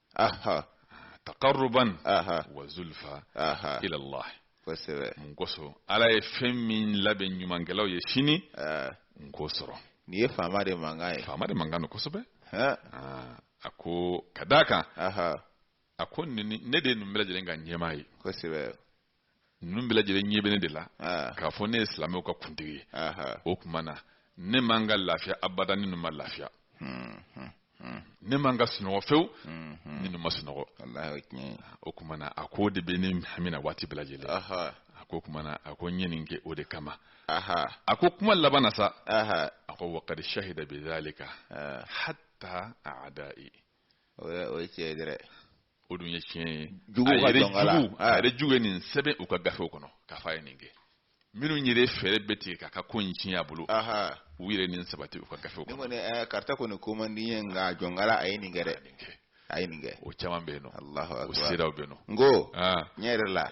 aha taqarruban aha wa zulfa aha ila allah kosɛbɛ mun kosɔn ala ye fɛn min labɛn ɲumankɛlaw ye sini n k'o sɔrɔ nin ye faama de mankan ye faama de mankan don kosɛbɛ a ko ka d'a kan a ko ne de ye ninnu bɛɛ lajɛlen ka ɲɛmaa ye kosɛbɛ ninnu bɛɛ lajɛlen ɲɛ bɛ ne de la ah. k'a fɔ ne ye silamɛw ka kuntigi ye o tuma na ne man ka lafiya abada ni ninnu ma lafiya hmm, hmm, hmm. ne man ka sunɔgɔ fewu ni ninnu ma sunɔgɔ o tuma na a k'o de bɛ ne hami na waati bɛɛ lajɛlen a k'o tuma na a ko n ye nin kɛ o de kama a ko kuma laban na sa a ko wa qad shahida bi zalika ah. hatta a'da'i o ye tiɲɛ ye dɛ o dun ye tiɲɛ ye jugu ka dɔnkala a yɛrɛ juguw ye nin sɛbɛn u ka gafew kɔnɔ k'a fɔ a ye nin kɛ minnu yɛrɛ fɛɛrɛ bɛ tigɛ k'a ka ko in tiɲɛ a bolo u yɛrɛ nin sabati u ka gafew kɔnɔ ne kɔni karisa kɔni ko man di n ye nka jɔnkala a ye nin kɛ dɛ a ye nin kɛ o caman bɛ yen nɔ o siraw bɛ yen nɔ n ko a yɛrɛ la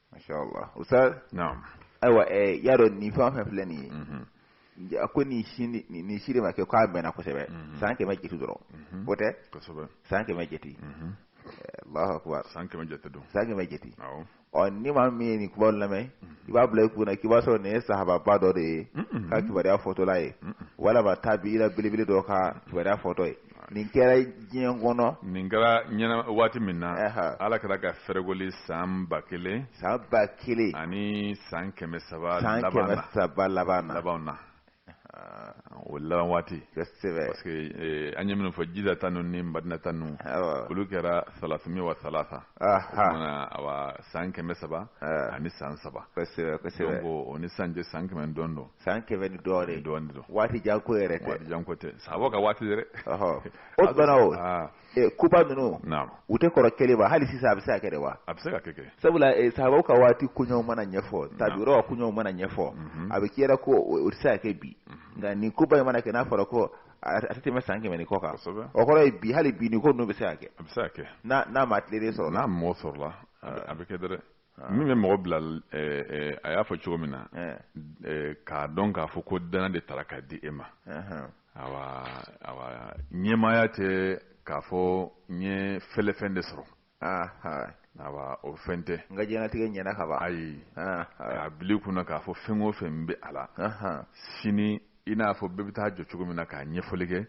masha Allah ustaz na'am aiwa eh yaro ni fa fa filɛ nin ye mhm. a ko nin si nin si de ma kɛ k'a mɛɛnna kosɛbɛ mhm. san kɛmɛ jeti dɔrɔn mhm. o tɛ kosɛbɛ san kɛmɛ jeti eh, Allahu akbar san kɛmɛ jeti don san kɛmɛ jeti awɔ ɔ ni maa min ye nin kuma lamɛn i b'a bila i kun na k'i b'a sɔrɔ nin ye sahababa dɔ de ye ka kibaruya fɔtɔla ye walama tabi'ina belebele dɔ ka kibaruya fɔtɔ ye nin kɛra diɲɛ kɔnɔ nin kɛra diɲɛ na waati min na ala kira ka fɛrɛgoli san ba kelen san ba kelen ani san kɛmɛ saba san kɛmɛ saba laban na laban na o laban waati kosɛbɛ parce que eh, an ye minnu fɔ jida ta ninnu ni madina ta ninnu olu kɛra salasa miya wa salasa awa san kɛmɛ saba ani san saba kosɛbɛ kosɛbɛ donc o ni san cɛ san kɛmɛ dɔrɔn don san kɛmɛ ni dɔɔnin ye dɔɔnin don waati jan ko yɛrɛ tɛ waati jan ko tɛ sahabaw ka waati yɛrɛ o bana o ah. eh, koba ninnu u tɛ kɔrɔ kelen wa hali sisan a bɛ se ka kɛ wa a bɛ se ka kɛ sabula eh, sahabaw ka waati koɲɛw mana ɲɛfɔ tabiyuw ka koɲɛw mana ɲɛfɔ mhm. a bɛ k'i la ko o tɛ se ka kɛ bi mhm. nka nin koba in mana kɛ n'a fɔra ko a tɛ tɛmɛ san kɛmɛ ni kɔ kan o kɔrɔ ye bi hali bi nin ko ninnu bɛ se ka kɛ a bɛ se ka kɛ n'a maa tilennen sɔrɔ n'a mɔgɔ sɔrɔla a bɛ kɛ dɛrɛ Ah. min bɛ mɔgɔ bila eh, eh, a y'a fɔ cogo min na eh. k'a dɔn k'a fɔ ko dana de tara ka di e ma awa awa ɲɛmaaya tɛ k'a fɔ n ye fɛlɛfɛn de sɔrɔ awa o fɛn tɛ n ka diɲɛlatigɛ ɲɛna ka ban ayi a bil'i kun na k'a fɔ fɛn o fɛn bɛ a la sini i n'a fɔ bɛɛ bɛ taa jɔ cogo min na k'a ɲɛfɔli kɛ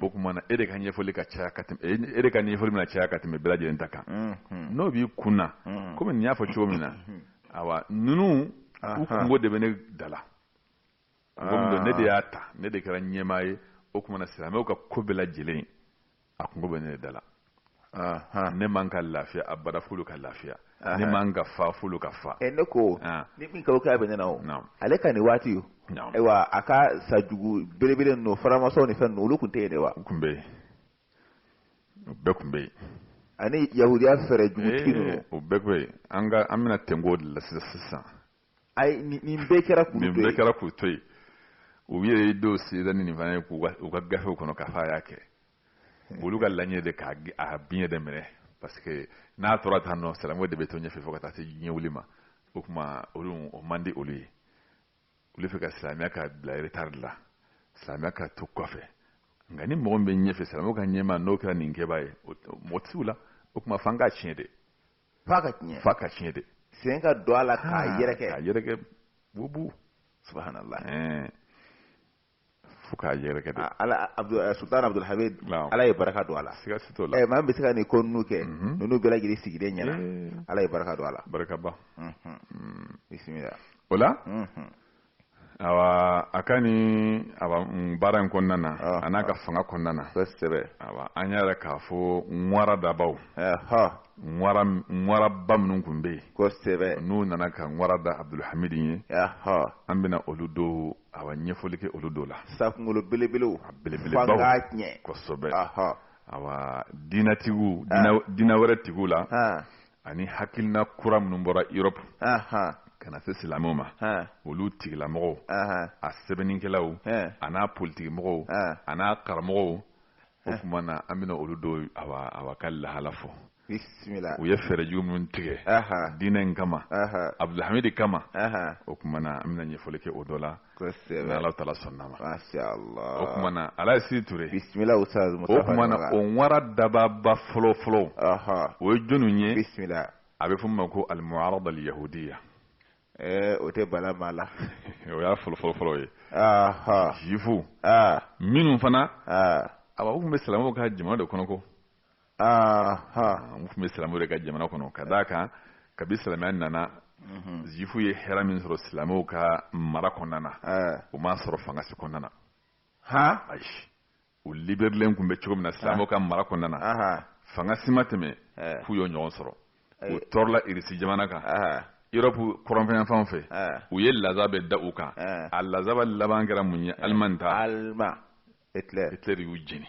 o tuma na e de ka ɲɛfɔli ka caya ka e de ka ɲɛfɔli bɛna caya ka tɛmɛ bɛɛ lajɛlen ta kan n'o b'i kun na komi nin y'a fɔ cogo min na ayiwa ninnu u kunko de bɛ ne da la ne de y'a ta ne de kɛra ɲɛmaa ye o tuma na silamɛw ka ko bɛɛ lajɛlen a kunko bɛ ne da la ne man ka lafiya abada f'olu ka lafiya ne man ka fa f'olu ka fa ne kɔni min ka kɛ bɛ ne na o ale ka nin waati o ayiwa a ka sajugu belebele n'o faramasɔn ni fɛn olu tun tɛ yen de wa u tun bɛ yen u bɛɛ tun bɛ yen ani yahudiya fɛɛrɛ jugutigi ninnu o bɛɛ tun bɛ yen nka an bɛna tɛnko de la sisan nin bɛɛ kɛra nin bɛɛ kɛra k'u to yen u yɛrɛ dɔw sida ni nin fana ye k'u ka gafew kɔnɔ k'a fɔ a y'a kɛ hmm. olu ka laɲini de k'a a biɲɛ de minɛ parce que n'a tora tan nɔ silamɛw de bɛ to ɲɛfɛ fo ka taa se diɲɛ wuli ma o tuma olu o man di olu ye olu fɛ ka silamɛya ka bila retard la silamɛya ka to kɔfɛ nka ni mɔgɔ min bɛ ɲɛfɛ silamɛw ka ɲɛmaa n'o kɛra nin kɛbaa ye mɔgɔ tɛ se u la o tuma f'an k'a tiɲɛ de f'an k'a tiɲɛ f'an k'a tiɲɛ de sen ka don a la k'a ah, yɛrɛkɛ k'a yɛrɛkɛ bubu subhanallah fo k'a yɛrɛkɛ de ah, ala eh, sultan abdul hamid ala ye baraka don a la siga si t'o la eh, maa min bɛ se ka nin ko ninnu kɛ mhm. ninnu bɛɛ lajɛlen sigilen ɲɛna eh. ala ye baraka don a la barakaba mhm. mm. bisimila o la mhm. awa a ka ni baara in kɔnɔna na ah, a n'a ka ah. fanga kɔnɔna na kosɛbɛ awa an y'a yira k'a fɔ ŋwara dabaw ŋwara ŋwaraba minnu tun bɛ yen kosɛbɛ n'u nana ka ŋwara da abdulhamidi ye an bɛna olu dɔw awa ɲɛfɔli kɛ olu dɔw la sakungolo belebelew a belebelebaw fanga tiɲɛ kosɛbɛ awa diinatigiw diina wɛrɛ tigiw la ani hakilina kura minnu bɔra europe ka na se silamɛw ma olu tigilamɔgɔw a sɛbɛnnikɛlaw a n'a politikimɔgɔw a n'a karamɔgɔw o tuma na an bɛna olu dɔw awa ka lahala fɔ u ye fɛɛrɛjugu minnu tigɛ diinɛ in kama abdulhamidi kama o tuma na an bɛna ɲɛfɔli kɛ o dɔ la Kosɛbɛ. Ala taala sɔnna a ma. Masha Allah. O kuma na Alaji Sidi Ture. Bisimila Ustaz Mustafa. O kuma na o nwara dababa fɔlɔ fɔlɔ. Ɔhɔn. O ye jɔniw ye? Bisimila. A bɛ fɔ min ma ko Alimuarada Aliyahudiya. Ɛɛ o tɛ bala maa la. O y'a fɔlɔ fɔlɔ fɔlɔ ye. Ɔhɔn. Zifu. Aa. Minnu fana. Aa. Awa u tun bɛ silamɛw ka jamana de kɔnɔ ko. aa u tun bɛ silamɛw de ka jamana kɔnɔ ka d'a kan kabi silamɛya nana mhm. zifu ye hɛrɛ min sɔrɔ silamɛw ka mara kɔnɔna na u m'a sɔrɔ fanga si kɔnɔna na ha ayi u liberilen tun bɛ cogo min na silamɛw ka mara kɔnɔna na fanga si ma tɛmɛ f'u y'o ɲɔgɔn sɔrɔ u tɔɔrɔla irisi jamana kan europe kɔrɔnfɛyanfanw fɛ u ye lazaba da u kan a lazaba laban kɛra mun ye alimani ta alima hitler y'u jeni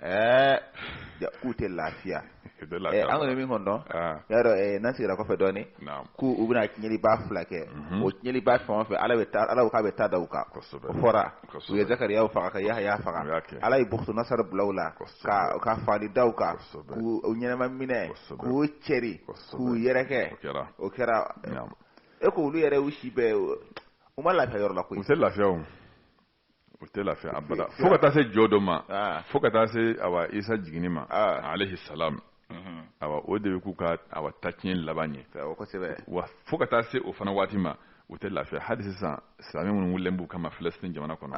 ɛɛ k'u tɛ lafiya an kɔni min kɔnɔ y'a dɔn n'an segira kɔfɛ dɔɔnin k'u u bɛna tiɲɛliba fila kɛ mhm. o tiɲɛliba fɛn o fɛn ala bɛ taa ala k'a bɛ taa da u kan fɔra u ye zakariya faga ka yahaya faga ala ye bukutunasar bila u la ka ka fagali da u kan k'u ɲɛnɛma minɛ k'u cɛri k'u yɛrɛkɛ o kɛra e ko olu yɛrɛ u si bɛɛ u ma lafiya yɔrɔ la koyi u tɛ lafiya o u tɛ lafiya abada fo ka taa se jɔdon ma ah. fo ka taa se awa isa jiginni ma ah. alayhi salam mhm. awa o de bɛ k'u ka awa tatiɲɛ laban ye wa fo ka taa se o fana waati ma u tɛ lafiya hali sisan silamɛ minnu wulilen b'u kama filɛsitini jamana kɔnɔ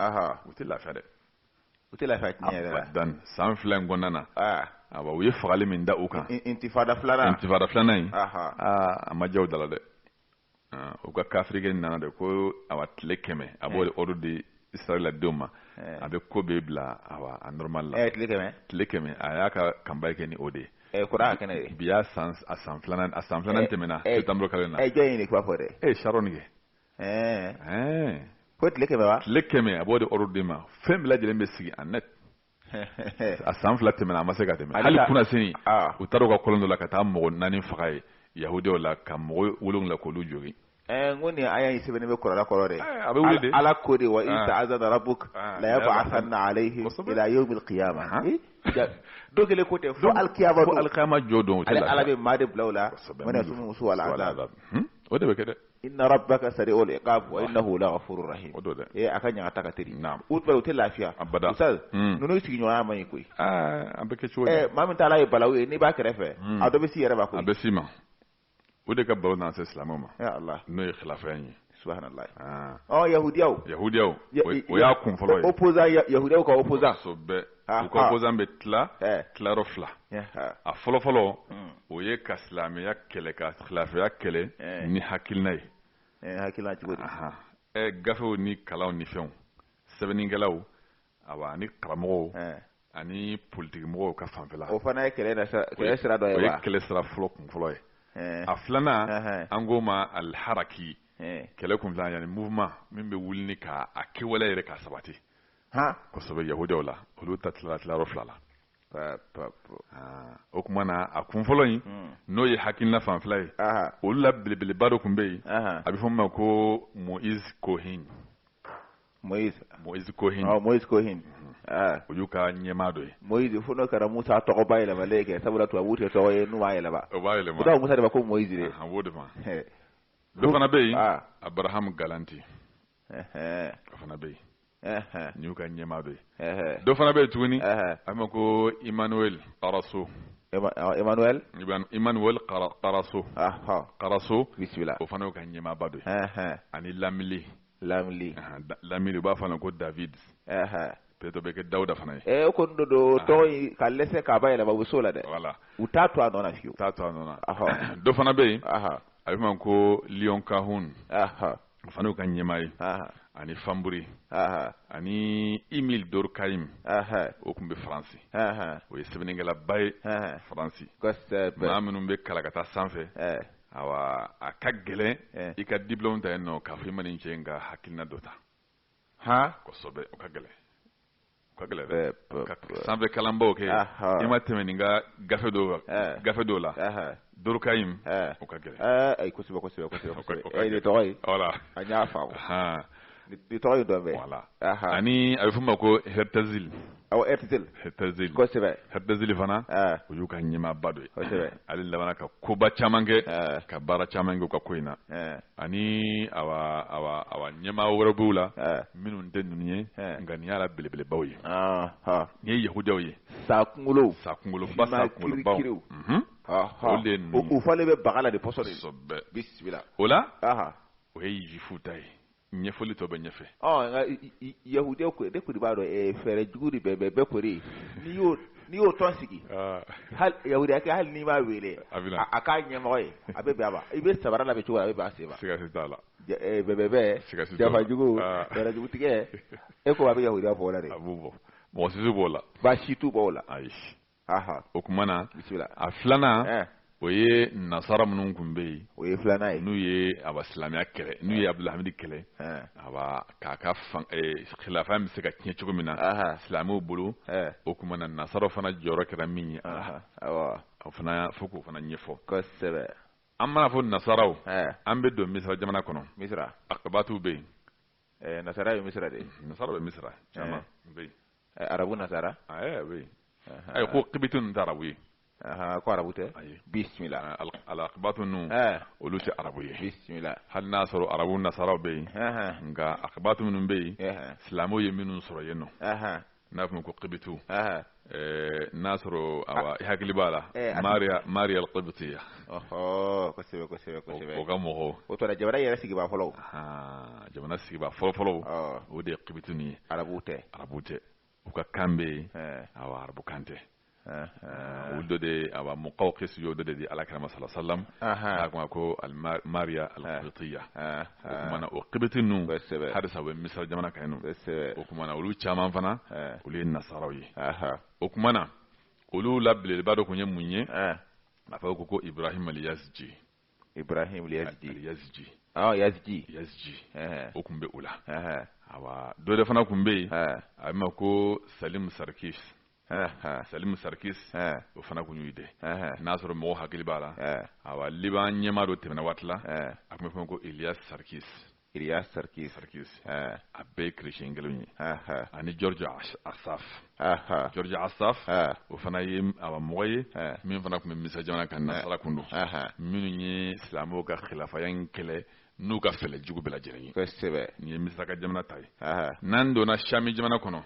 u tɛ lafiya dɛ u tɛ lafiya tiɲɛ yɛrɛ la abadan san fila in kɔnɔna na ah. awa u ye fagali min da u kan intifada filanan intifada filanan in aa a ma diya u da la dɛ ah, u ka kafirikɛ nana de ko awa tile kɛmɛ a b'o de eh. ordre di israɛladenw ma eh. a bɛ ko bɛɛ bila awa a normal la eh, tile kɛmɛ tile kɛmɛ a y'a ka campagne kɛ ni o de ye Eh, kura kɛnɛ ye bi y'a san a san filanan a san filanan eh, tɛmɛna eh, septembre kalo in na jɔn ye nin kuma fɔ dɛ ee sharon kɛ ko tile kɛmɛ wa tile kɛmɛ a b'o de ordre de ma fɛn bɛɛ lajɛlen bɛ sigi a net a san fila tɛmɛna a ma se ka tɛmɛ hali kunnasini u taara u ka kolon dɔ la ka taa mɔgɔ naani faga yen yahudiyaw la ka mɔgɔ wolonwula k'olu jogin n ko nin aya in sɛbɛnnen bɛ kuranɛ kɔnɔ dɛ a bɛ wuli de ala ko de wa iz ta'azzana rabbuk la yab'athanna alayhim ila yawm al-qiyamah don kelen ko tɛ fo alkiyama don alkiyama jɔ don ale ala bɛ maa de bila u la man yasumuhum su'al azab o de bɛ kɛ dɛ inna rabbaka sari'ul iqab wa innahu laghafurur rahim o don dɛ ee a ka ɲangata ka teri na u u tɛ lafiya abada ustaz ninnu sigiɲɔgɔnya man ɲi koyi an bɛ kɛ cogo di maa min tala ye balawu ye n'i b'a kɛrɛfɛ a dɔ bɛ se i yɛrɛ ma koyi a bɛ se i ma o de ka balawu nana se silamɛw ma n'o ye kilafaya ye yahudiyaw yahudiya o y'a kun fɔlɔ ye opposant yahudiyaw ka opposant u ka opposant bɛ tila tilayɔrɔ fila a fɔlɔfɔlɔ o ye ka silamɛya kɛlɛ ka kilafaya kɛlɛ ni hakilina ye ɛ gafew ni kalaw ni fɛnw sɛbɛnnikɛlaw awa ani karamɔgɔw ani politigimɔgɔw ka fanfɛla o fana ye kɛlɛ kɛlɛ sira fɔlɔ kun fɔlɔ ye a filanan an k'o ma al-haraki kɛlɛ kun filanan yani mouvement min bɛ wuli k'a kɛwale yɛrɛ ka sabati kosɛbɛ yahudiyaw la olu ta tilala tilayɔrɔ fila la o kuma na a kun fɔlɔ in n'o ye hakilina fanfɛla ye olu la belebeleba dɔ kun bɛ yen a bɛ fɔ min ma ko moïse cohen moïse cohen moïse cohen o y'u ka ɲɛmaa dɔ ye moïse fo n'o kɛra musa tɔgɔ bayɛlɛmalen kɛ sabula tubabu tɛ tɔgɔ ye n'u m'a yɛlɛma u b'a yɛlɛma o musa de ma ko moïse de a b'o de ma dɔ fana bɛ yen abraham galanti o fana bɛ yen nin y'u ka ɲɛmaa dɔ ye dɔ fana bɛ yen tuguni a bɛ f'a ma ko emmanuel carasso emmanuel emmanuel carasso carasso bisimila o fana y'u ka ɲɛmaaba dɔ ye ani lamli lamli lamli u b'a f'a ma ko david peut-être o bɛ kɛ dawuda fana ye e o kɔni don tɔgɔ ka dɛsɛse k'a bayɛlɛma u bɛ se o la dɛ voilà u t'a to a nɔ na fiyewu u t'a to a nɔ na dɔ fana bɛ yen a bɛ f'a ma ko léon kahun o fana y'u ka ɲɛmaa ye ani fanburi ani émile durkheim o tun bɛ faransi o ye sɛbɛnnikɛlaba ye faransi maa minnu bɛ kalan ka taa sanfɛ awa a ka gɛlɛn i ka diplôme ta yen nɔ k'a fɔ i ma nin cɛ in ka hakilina dɔ ta han kosɛbɛ o ka gɛlɛn sanfɛ kalanbaw kɛ i ma tɛmɛ nin ka gafe dɔw gafe dɔw la durkheim o ka gɛlɛn ayi kosɛbɛ kosɛbɛ kosɛbɛ tɔgɔ ye an y'a faamu tɔgɔ ye dɔn voilà ani a bɛ f'o ma ko herzl herzl kosɛbɛ herzl fana o y'u ka ɲɛmaaba dɔ ye ale labanna ka koba caman kɛ ka baara caman kɛ u ka ko in na ani awa ɲɛmaa wɛrɛw b'u la minnu tɛ ninnu ye nka nin y'a la belebelebaw ye nin ye yahudiyaw ye sa kunkolo sa kunkolo ba sa kunkolobaw u falen bɛ baga la de pɔsɔn bisimila o la o ye jifu ta ye ɲɛfɔli tɔ bɛ ɲɛfɛ yahudiya ko b'a dɔn fɛɛrɛ jugu de bɛɛ bɛɛ bɛɛ kori n'i y'o n'i y'o tɔn sigi yahudiyakɛ hali n'i m'a weele a k'a ɲɛmɔgɔ ye a bɛ bɛn a ma i bɛ sabara labɛn cogo a bɛ bɛn a sen ma bɛɛ janfa jugu fɛɛrɛ jugu tigɛ e ko a bɛ yahudiya bɔ o la de mɔgɔ si b'o la baasi t'u b'o la ayi o tuma na a filanan o ye nasara minnu tun bɛ yen o ye filanan ye n'u ye awa silamɛya kɛlɛ n'u ye abdulhamidi kɛlɛ awa k'a ka khilafa bɛ se ka tiɲɛ cogo min na silamɛw bolo o tuma na nasara fana jɔyɔrɔ kɛra min ye o fana fo k'o fana ɲɛfɔ kosɛbɛ an mana fɔ nasaraw an bɛ don misira jamana kɔnɔ misira akibatu bɛ yen Eh, nasara ye misira de ye nasara bɛ misira eh. caman bɛ yen eh, arabu nasara ɛɛ bɛ yen ayi ko kibiti ninnu tɛ arabu ye ko arabu tɛ bisimila alakibatu ninnu olu tɛ arabu ye bisimila hali n'a sɔrɔ arabu nasaraw bɛ yen nka akibatu minnu bɛ yen silamɛw ye minnu sɔrɔ yen nɔ n'a fɔ ko kibitu n'a sɔrɔ awa i hakili b'a la eh, mariya alkibitiya o ka mɔgɔw o tora jamana yɛrɛ sigibaa fɔlɔ jamana sigibaa fɔlɔfɔlɔw o de ye kibitu nin ye arabu tɛ arabu tɛ u ka kan bɛ yen awa arabu kan tɛ olu dɔ de ye awa muqawqis y'o dɔ de di ala kira ma sala salam a kuma ko mariya alqibitiya o kuma na o qibiti ninnu halisa u bɛ misira jamana kan yen nɔ o kuma na olu caman fana olu ye nasaraw ye o kuma na olu la belebeleba dɔ tun ye mun ye a fɔ ko ko ibrahim aliyaziji ibrahim aliyaziji aliyaziji yaziji yaziji o tun bɛ o la awa dɔ de fana tun bɛ yen a bɛ ma ko salim sarkis Salimu Sarikis o fana tun y'u dɔ ye n'a sɔrɔ mɔgɔw hakili b'a la awa Liban ɲɛmaa dɔ tɛmɛna waati la a tun bɛ fɔ ko Elias Sarikis Elias Sarikis Sarikis a bɛɛ ye chrétien kelenw ye ani George Asaf George Asaf o fana ye awa mɔgɔ ye min fana tun bɛ Misira jamana kan nasara tun don minnu ye silamɛw ka khilafaya in kɛlɛ. n'u ka fɛɛrɛ jugu bɛɛ lajɛlen ye kosɛbɛ nin ye misira ka jamana ta ye n'an donna sami jamana kɔnɔ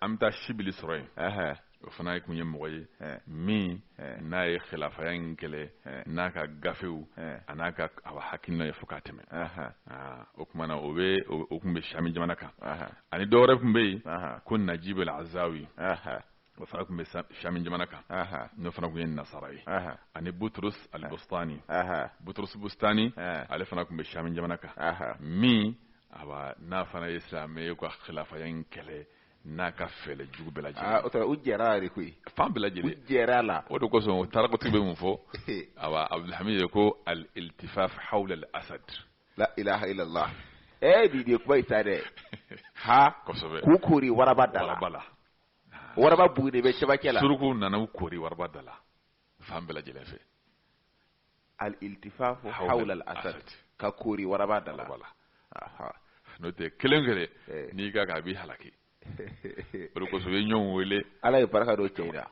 an bɛ taa sibili sɔrɔ yen o fana ye tun ye mɔgɔ ye min n'a ye khilafaya in kɛlɛ n'a ka gafew a n'a ka awa hakilina ye fo k'a tɛmɛ o tuma na o bɛ o tun bɛ sami jamana kan ani dɔ wɛrɛ tun bɛ yen ko najibu azawi O fana tun bɛ sami jamana kan n'o fana tun ye nasara ye ani Butrus al-Bustani Butrus Bustani ale fana tun bɛ sami jamana kan min a n'a fana ye silamɛ ka khilafaya in kɛlɛ n'a ka fɛlɛ jugu bɛɛ lajɛlen u jɛra yɛrɛ koyi fan bɛɛ lajɛlen u jɛra a la o de kosɔn o tarikitigi bɛ mun fɔ abdulhamid ye ko al-iltifafu hawla al-asad la ilaha illallah ta dɛ kosɛbɛ k'u kori waraba da la waraba bugu de bɛ cɛmancɛ la surukuw nana u kori waraba da la fan bɛɛ lajɛlen fɛ al-iltifafu hawla al-asad ka kori waraba da la n'o tɛ kelen kelen eh. n'i ka kan a b'i halaki o de kosɔn u ye ɲɔgɔn wele ala ye barika don cɛ in na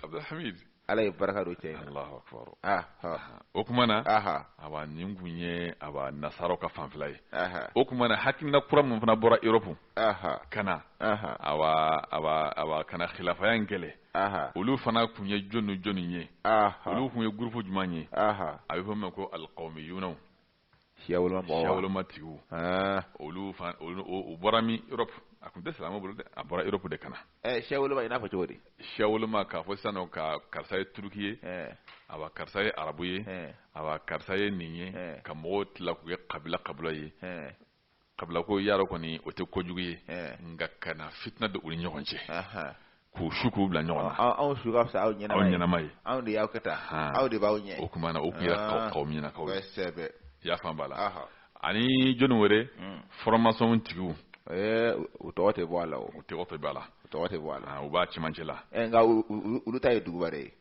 abdulhamid ala ye barika don cɛ in na Allahu akbar o tuma na awa nin kun ye awa nasaraw ka fanfɛla ye o tuma na hakilina kura min fana bɔra Europe ka na awa ka na khilafaya in kɛlɛ olu fana tun ye jɔnni jɔnni ye olu tun ye groupe jumɛn ye a bɛ fɔ o ma ko al-qawmiyunaw siya woloma mɔgɔ siya woloma tigiw olu fana o bɔra min Europe a tun tɛ silamɛw bolo dɛ a bɔra Europe de ka na ɛ siya woloma i n'a fɔ cogo di siya woloma k'a fɔ sisan ko karisa ye turuki ye awa karisa ye arabu ye awa karisa ye nin ye ka mɔgɔw tila k'u kɛ kabila kabila ye kabila ko yɛrɛ kɔni o tɛ kojugu ye eh. nka ka na fitina don u ni ɲɔgɔn cɛ k'u su k'u bila ɲɔgɔn na anw su ka fisa aw ɲɛnama ye anw de y'aw kɛ tan anw de b'aw ɲɛ o tuma na o tun ye al-qawmiyinakaw ye i y'a faamu b'a la ani jɔni wɛrɛ hmm. franc-maçon tigiw eh, u tɔgɔ tɛ bɔ a la o tɔgɔ tɛ bɔ a la u tɔgɔ tɛ bɔ a la u b'a cɛmancɛ la eh, nka olu ta ye duguma de ye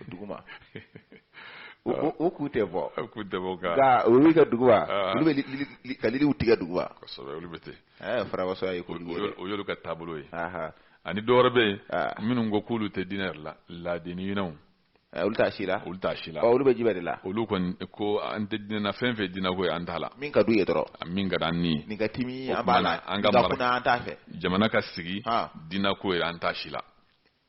duguma u k'u tɛ bɔ k'u tɛ bɔ nka olu ka jugu olu bɛ ka liliw tigɛ duguma kosɛbɛ olu bɛ ten franc-maçon ye o y'olu ka taabolo ye ani dɔwɛrɛ bɛ yen minnu ko k'olu tɛ diinɛ yɛrɛ la laadiniyinw olu t'a si la olu t'a si la olu bɛ diɲɛ de la olu kɔni ko an tɛ diinɛ na fɛn fɛn diinɛ ko ye an t'a la min ka d'u ye dɔrɔn min ka d'an ye nin ka timi an b'a la an ka mara an t'a fɛ jamana ka sigi diinɛ ko ye an t'a si la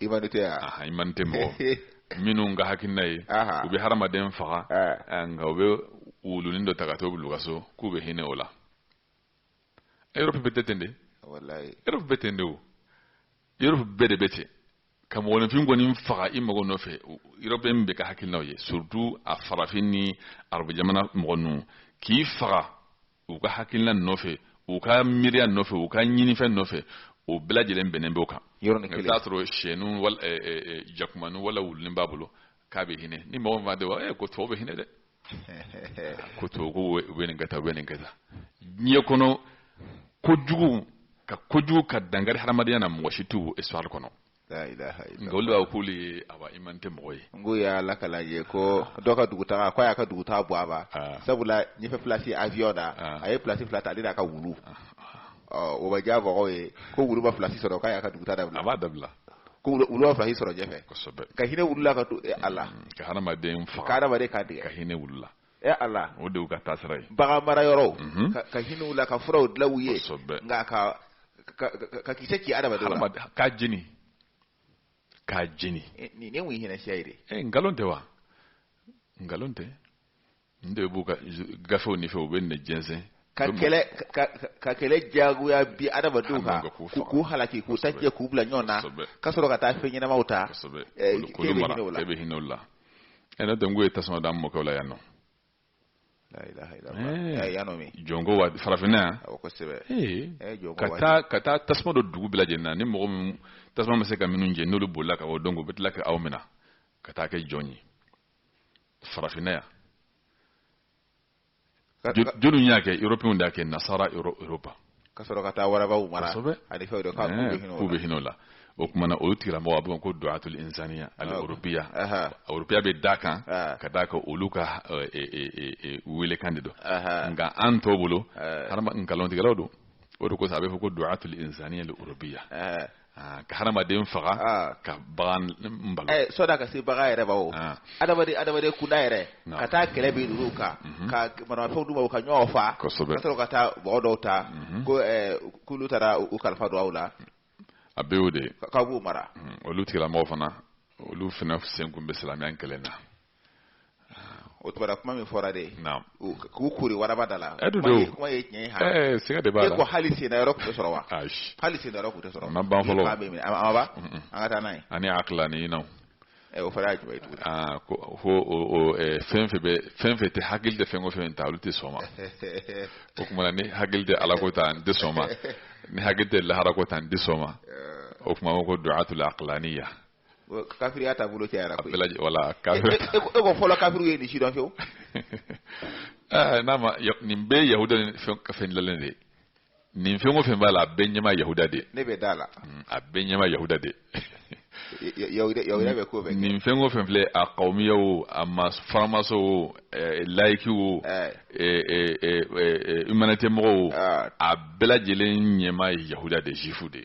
humanitéya humanité mɔgɔ minnu ka hakilina ye u bɛ hadamaden faga nka u bɛ wulunin dɔ ta ka t'o bila u ka so k'u bɛ hinɛ o la Europe bɛɛ tɛ ten de Europe bɛ ten de o Europe bɛɛ de bɛ ten ka mɔgɔninfin kɔni faga i mago nɔfɛ Europe bɛɛ ka hakilina ye surtout a farafin ni arabu jamana mɔgɔ ninnu k'i faga u ka hakilina nɔfɛ u ka miiriya nɔfɛ u ka ɲinifɛn nɔfɛ o bɛɛ lajɛlen bɛnnen b'o kan i t'a sɔrɔ sɛnu wala eh, eh, eh, jakumanu wala wulunin b'a bolo k'a bɛ hinɛ ni mɔgɔ min t'a dɔn eh, ko tubabu bɛ hinɛ dɛ ko tubabu ko u bɛ nin kɛ u bɛ nin kɛ tan diɲɛ kɔnɔ kojugu ka kojugu ka dankari hadamadenya na mɔgɔ si t'u bɔ histoire kɔnɔ nka olu b'a k'olu ye humanité mɔgɔ ye n ko y'a la ka ye ko dɔ ka dugutaga ko a y'a ka dugutaa bɔ a ma sabula ɲɛfɛ place avion na a ye place fila ta ale n'a ka wulu o bɛ diya mɔgɔw ye ko wulu ma place sɔrɔ k'a y'a ka dugutaa dabila a b'a dabila ko wulu ma place sɔrɔ ɲɛfɛ ka hinɛ wulu la ka to a la ka hadamaden faga ka hadamaden kan tigɛ ka hinɛ wulu la Ɛ Ala o de y'u ka taasira ye bagan mara yɔrɔ ka hinɛ u la ka furaw dilan u ye nka ka ka kisɛ ci adamaden la k'a jeni k'a jeni nin ye insaniya ye ɛ nkalon tɛ wa nkalon tɛ nin de b'u ka gafew nin fɛ u bɛ nin jɛnsɛn ka ka kɛlɛ jagoya bin adamadenw kan k'u halaki k'u ta jɛ k'u bila ɲɔgɔn na ka sɔrɔ ka taa fɛn ɲɛnamaw ta k'e bɛ hinɛ o la ɛ n'o tɛ n ko ye tasuma d'an mɔkɛw la yan nɔ jɔnko waati farafinna yan ka taa ka taa tasuma don dugu bɛɛ lajɛlen na ni mɔgɔ min tasuma ma se ka minnu jeni olu bolila ka bɔ donc u bɛ tila ka aw minɛ ka taa kɛ jɔn ye farafinna yan jɔnni y'a kɛ européens y'a kɛ nasara Europe ka sɔrɔ ka taa warabaw mara ani fɛnw de k'u bɛ hinɛ o la o tuma na olu tigilamɔgɔ a bɛ ko duwatul insaniya al-orobiya orobiya bɛ da kan ka da kan olu ka welekan de don nka an tɔw bolo nkalontigɛlaw don o de kosɔn a bɛ fɔ ko duwatul insaniya al-orobiya Ah, ka hadamaden faga ah. ka bagan eh, sɔda ka se bagan yɛrɛ ma o ah. adamaden adamaden kunda yɛrɛ ka taa kɛlɛ bin ninnu kan mhm. ka maramafɛnw d'u ma u ka ɲɔgɔn fa ka sɔrɔ ka taa mɔgɔ dɔw ta mhm. ko eh, k'olu taara u kalifa don aw la a bɛ o de k'aw b'u mara mhm. olu tigilamɔgɔ fana olu fana senkun bɛ silamɛya kɛlɛ na o tuma kuma min fɔra de k'u kuru waraba da la kuma ye tiɲɛ ye siga de b'a ko hali sen yɔrɔ tun sɔrɔ wa hali sen yɔrɔ tun sɔrɔ ban fɔlɔ an ka taa n'a ye ani akilaniyin o fɔra jumɛn aa ko ko fɛn fɛn bɛ fɛn fɛn tɛ hakili tɛ fɛn o fɛn ta olu tɛ sɔn ma o tuma ni hakili tɛ Ala ko ta n tɛ sɔn ma ni hakili tɛ laharako ta n tɛ sɔn ma o tuma ko duwatul akilaniya kafiriya taabolo cayara koyi bɛlaji wala e, kafiri e, e, e ko fɔlɔ kafiriw tɛ nin si dɔn fewu eh, n'a ma nin bɛɛ ye yahuda ni fɛn ka fɛn dilanlen de ye nin fɛn o fɛn b'a la a bɛɛ ɲɛma yahuda de ne bɛ da la mm, a bɛɛ ɲɛma yahuda de yahuda bɛ ko bɛɛ nin fɛn o fɛn filɛ a kawumiya o a ma faramaso o eh, layiki o eh. humanité mɔgɔw o ah. a bɛɛ lajɛlen ɲɛma ye yahuda de juifu de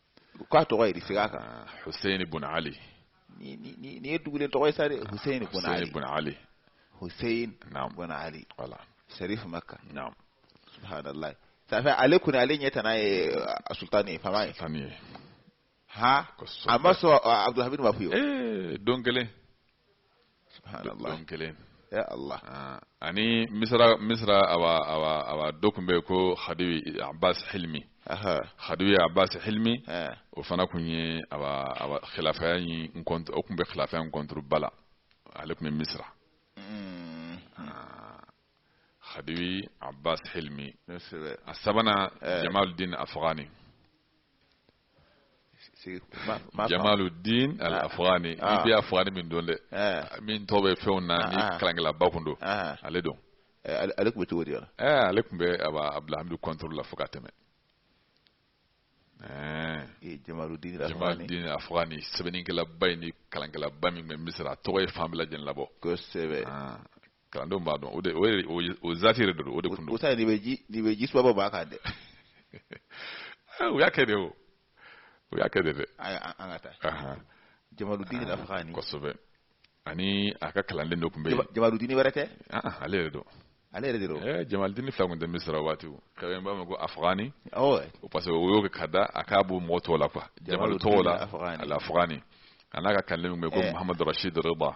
k'a tɔgɔ ye di segin a kan ah, Hussein ibn Ali nin ye dugulen tɔgɔ ye sa dɛ Hussein ibn Ali ibn Ali Hussein ibn Ali wala Sharif Makka naam subhanallah ça fait ale kɔni ale ɲɛ tana ye euh, sultan ye faama ye faama ye ha a ma sɔn euh, Abdulhamid ma fewu eh, don kelen subhanallah kelen ya allah ah, ani misra misra awa awa awa do kun be ko khadiwi abbas hilmi aha khadiwi abbas hilmi eh. o fana kun ye awa awa khilafaya in contre o kun be khilafaya in contre bala ale kun be misra mm. ah, khadiwi abbas hilmi a sabana eh. jamaluddin afghani jamaluddin al ah. afghani i ah. bɛ afghani min dɔn dɛ eh. min tɔgɔ bɛ fɛnw na ni ah. kalankɛlaba kun don ale don eh, ale tun bɛ cogo di yɔrɔ eh, ale tun bɛ abdulhamidu kɔntoro la fo ka tɛmɛ jamaluddin jamaluddin afghani sɛbɛnnikɛlaba ye ni kalankɛlaba min bɛ misira a tɔgɔ ye fan bɛɛ lajɛlen labɔ kosɛbɛ kalandenw b'a dɔn o de o ye o ye- o zati yɛrɛ de don o de kun don o ta nin bɛ ji nin bɛ ji suba b'a kan dɛ Eh, u y'a kɛ de o u y'a kɛ de dɛ ayi an an ka taa Ahan, jamaludini al afghani kosɛbɛ ani a ka kalanden dɔ tun bɛ yen Jama- jamaludini wɛrɛ tɛ Ah, ah, ale yɛrɛ don ale yɛrɛ de don Eh, jamalidini fila tun tɛ misira o waati o kabini b'a ma ko afghani awɔ o parce que o y'o kɛ ka da a k'a bɔ mɔgɔ tɔw la quoi jamalu Jamaludini tɔw la Afghani. al afghani a n'a ka kalanden min bɛ yen ko Eh. muhamadu rashid rida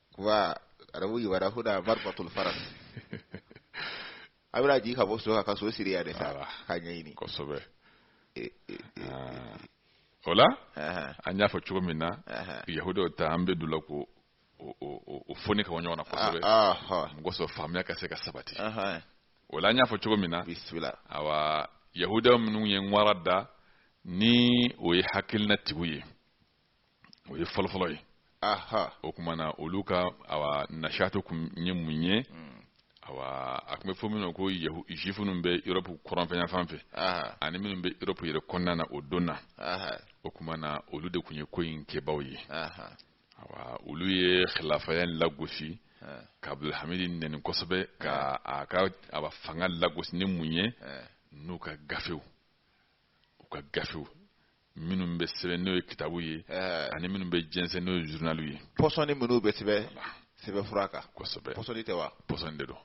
kuba arabu ibara huna marbatul faras a bɛna jigin ka bɔ so kan ka so siri yɛrɛ sa k'a ɲɛɲini kosɛbɛ e, e, e, ah. o la an y'a fɔ cogo min na yahudaw ta an bɛ don o la k'o foni ka bɔ ɲɔgɔn na kosɛbɛ ah, ah, mun kɔsɔn faamuya ka se ka sabati o la an y'a fɔ cogo min na awa yahudaw minnu ye ŋwara da ni o ye hakilinatigiw ye o ye fɔlɔfɔlɔ ye o tuma na olu ka nashati tun ye mun ye mm. a tun bɛ fɔ min ko juifu minnu bɛ Europe kɔrɔnfɛ yanfan fɛ ani minnu bɛ Europe yɛrɛ kɔnɔna na o don na o tuma na olu de tun ye ko in kɛbaa ye olu ye khilafaya lagosi ka Abdulhamid nɛni kosɛbɛ ka a ka a fanga lagosi ni mun ye n'u ka gafew u ka gafew minnu bɛ sɛbɛn n'o ye kitabu ye eh. ani minnu bɛ jɛnsɛn n'o ye journalw ye pɔsɔni minnu bɛ sɛbɛn sɛbɛnfura kan kosɛbɛ pɔsɔni tɛ wa pɔsɔni de don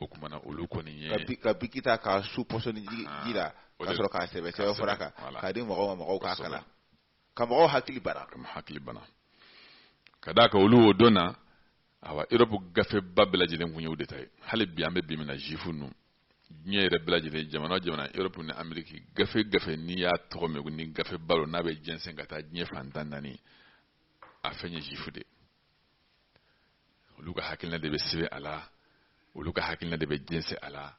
o tuma na olu kɔni ye ka biki ta k'a su pɔsɔni ji ah, la ka sɔrɔ k'a sɛbɛn sɛbɛnfura kan k'a di mɔgɔw ma mɔgɔw k'a kalan ka mɔgɔw hakili bana ka mɔgɔw hakili bana ka d'a kan olu o don na awa Europe gafeba bɛɛ lajɛlen tun ye u de ta ye hali bi an bɛ bi min na juifu ninnu diɲɛ yɛrɛ bɛɛ lajɛlen jamana jamana europe ni ameriki gafe gafe n'i y'a tɔgɔ mɛn ni gafeba lo n'a bɛ jɛnsɛn ka taa diɲɛ fan tan naani a fɛn ye zifu de olu ka hakilina de bɛ sɛbɛn a la olu ka hakilina de bɛ jɛnsɛn a la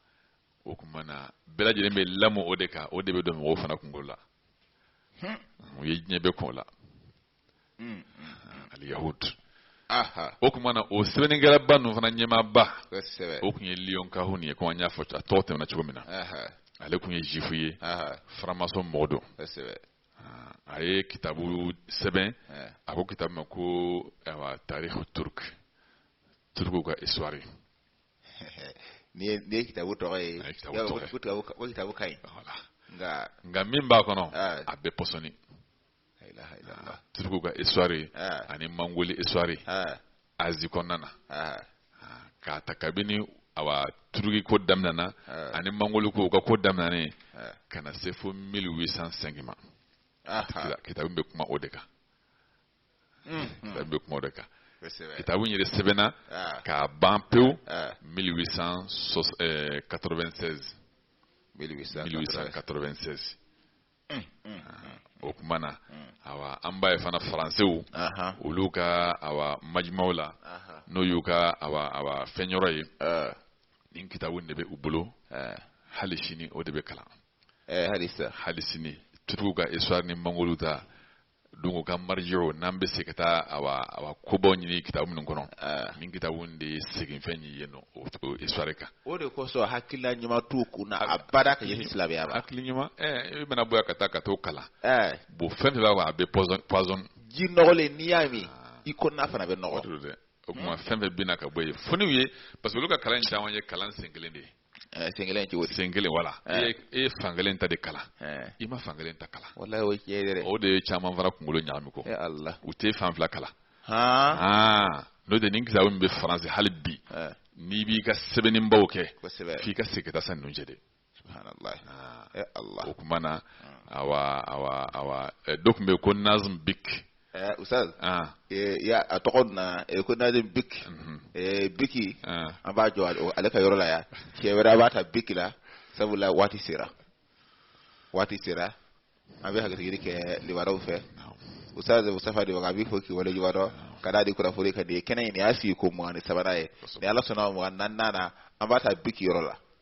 o kuma na bɛɛ lajɛlen bɛ lamɔ o de kan o de bɛ don mɔgɔw fana kunkolo la hmm. u ye diɲɛ bɛɛ kɔn o la Mm, mm. Ah, al yahud o kuma na o sɛbɛnnikɛlaba ninnu fana ɲɛmaaba o kun ye léon cahun ye komi an y'a fɔ a tɔgɔ tɛmɛna cogo min na ale kun ye zifu ye faramasɔn mɔgɔ don ah, a ye kitabu sɛbɛn a ko kitabu ma ko awa tarihu turk turuku ka histoire nin ye kitabu tɔgɔ ye o kitabu ka ɲi nka min b'a kɔnɔ a bɛɛ pɔsɔni turuku ka histoire ani mangoli histoire asie kɔnɔna na k'a ta kabini awa turuki ko daminɛna ani mangoli ko u ka ko daminɛnen ka na se fo 1805 ma kitabu bɛ kuma o de kan hmm, hmm. kitabu bɛ kuma o de kan kitabu in yɛrɛ sɛbɛnna k'a ban pewu 1896 1896 o kuma na awa an b'a ye fana faransew olu ka awa majimaw la n'o y'u ka awa fɛn yɔrɔ ye nin kitabu de bɛ u bolo hali sini o de bɛ kalan hali sini turuku ka histoire ni mangoli ta donc u ka marjiw n'an bɛ se ka taa awa kobaw ɲini kitabu minnu kɔnɔ nin kitabu de ye seginfɛn ye yen o histoire kan o de kosɔn hakilila ɲuman t'u kun na abada ka ɲɛsin silamɛya ma hakili ɲuman i bɛna bɔ yan ka taa ka t'o kalan bon fɛn fɛn b'a kɔnɔ a bɛɛ poison ji nɔgɔlen n'i y'a min i kɔnɔna fana bɛ nɔgɔ o kuma fɛn fɛn bɛ na ka bɔ yen fo n'i ye parce que olu ka kalan caman ye kalan sen kelen de ye Eh, sen kelen cogo di sen kelen voilà eh. e ye fan kelen ta de kalan eh. i ma fan kelen ta kalan wallahi o tiɲɛ yɛrɛ o de ye caman fana kunkolo ɲagami kɔ ala u tɛ fan fila kalan n'o tɛ nin kitabu min bɛ faransi hali bi n'i b'i ka sɛbɛnnibaw kɛ f'i ka segin ka taa san ninnu cɛ de subhanallah ala o kuma na awa awa awa dɔ tun bɛ yen ko nazim bik Eh, Ustaz, ah. eh, ya a tɔgɔ na eh, ko nazim biki mhm. eh, biki ah. an b'a jɔ ale ka yɔrɔ la yan cɛ wɛrɛ an b'a ta biki la sabula waati sera waati sera an bɛ hakilisigi kɛ libaraw fɛ Ustaz Mustafa de an b'i fo k'i waleɲumandɔn ka da di kunnafoni ka di kɛnɛ in y'a sigiko mugan ni sabanan ye ni ala sɔnna mugan naaninan na an b'a ta biki yɔrɔ la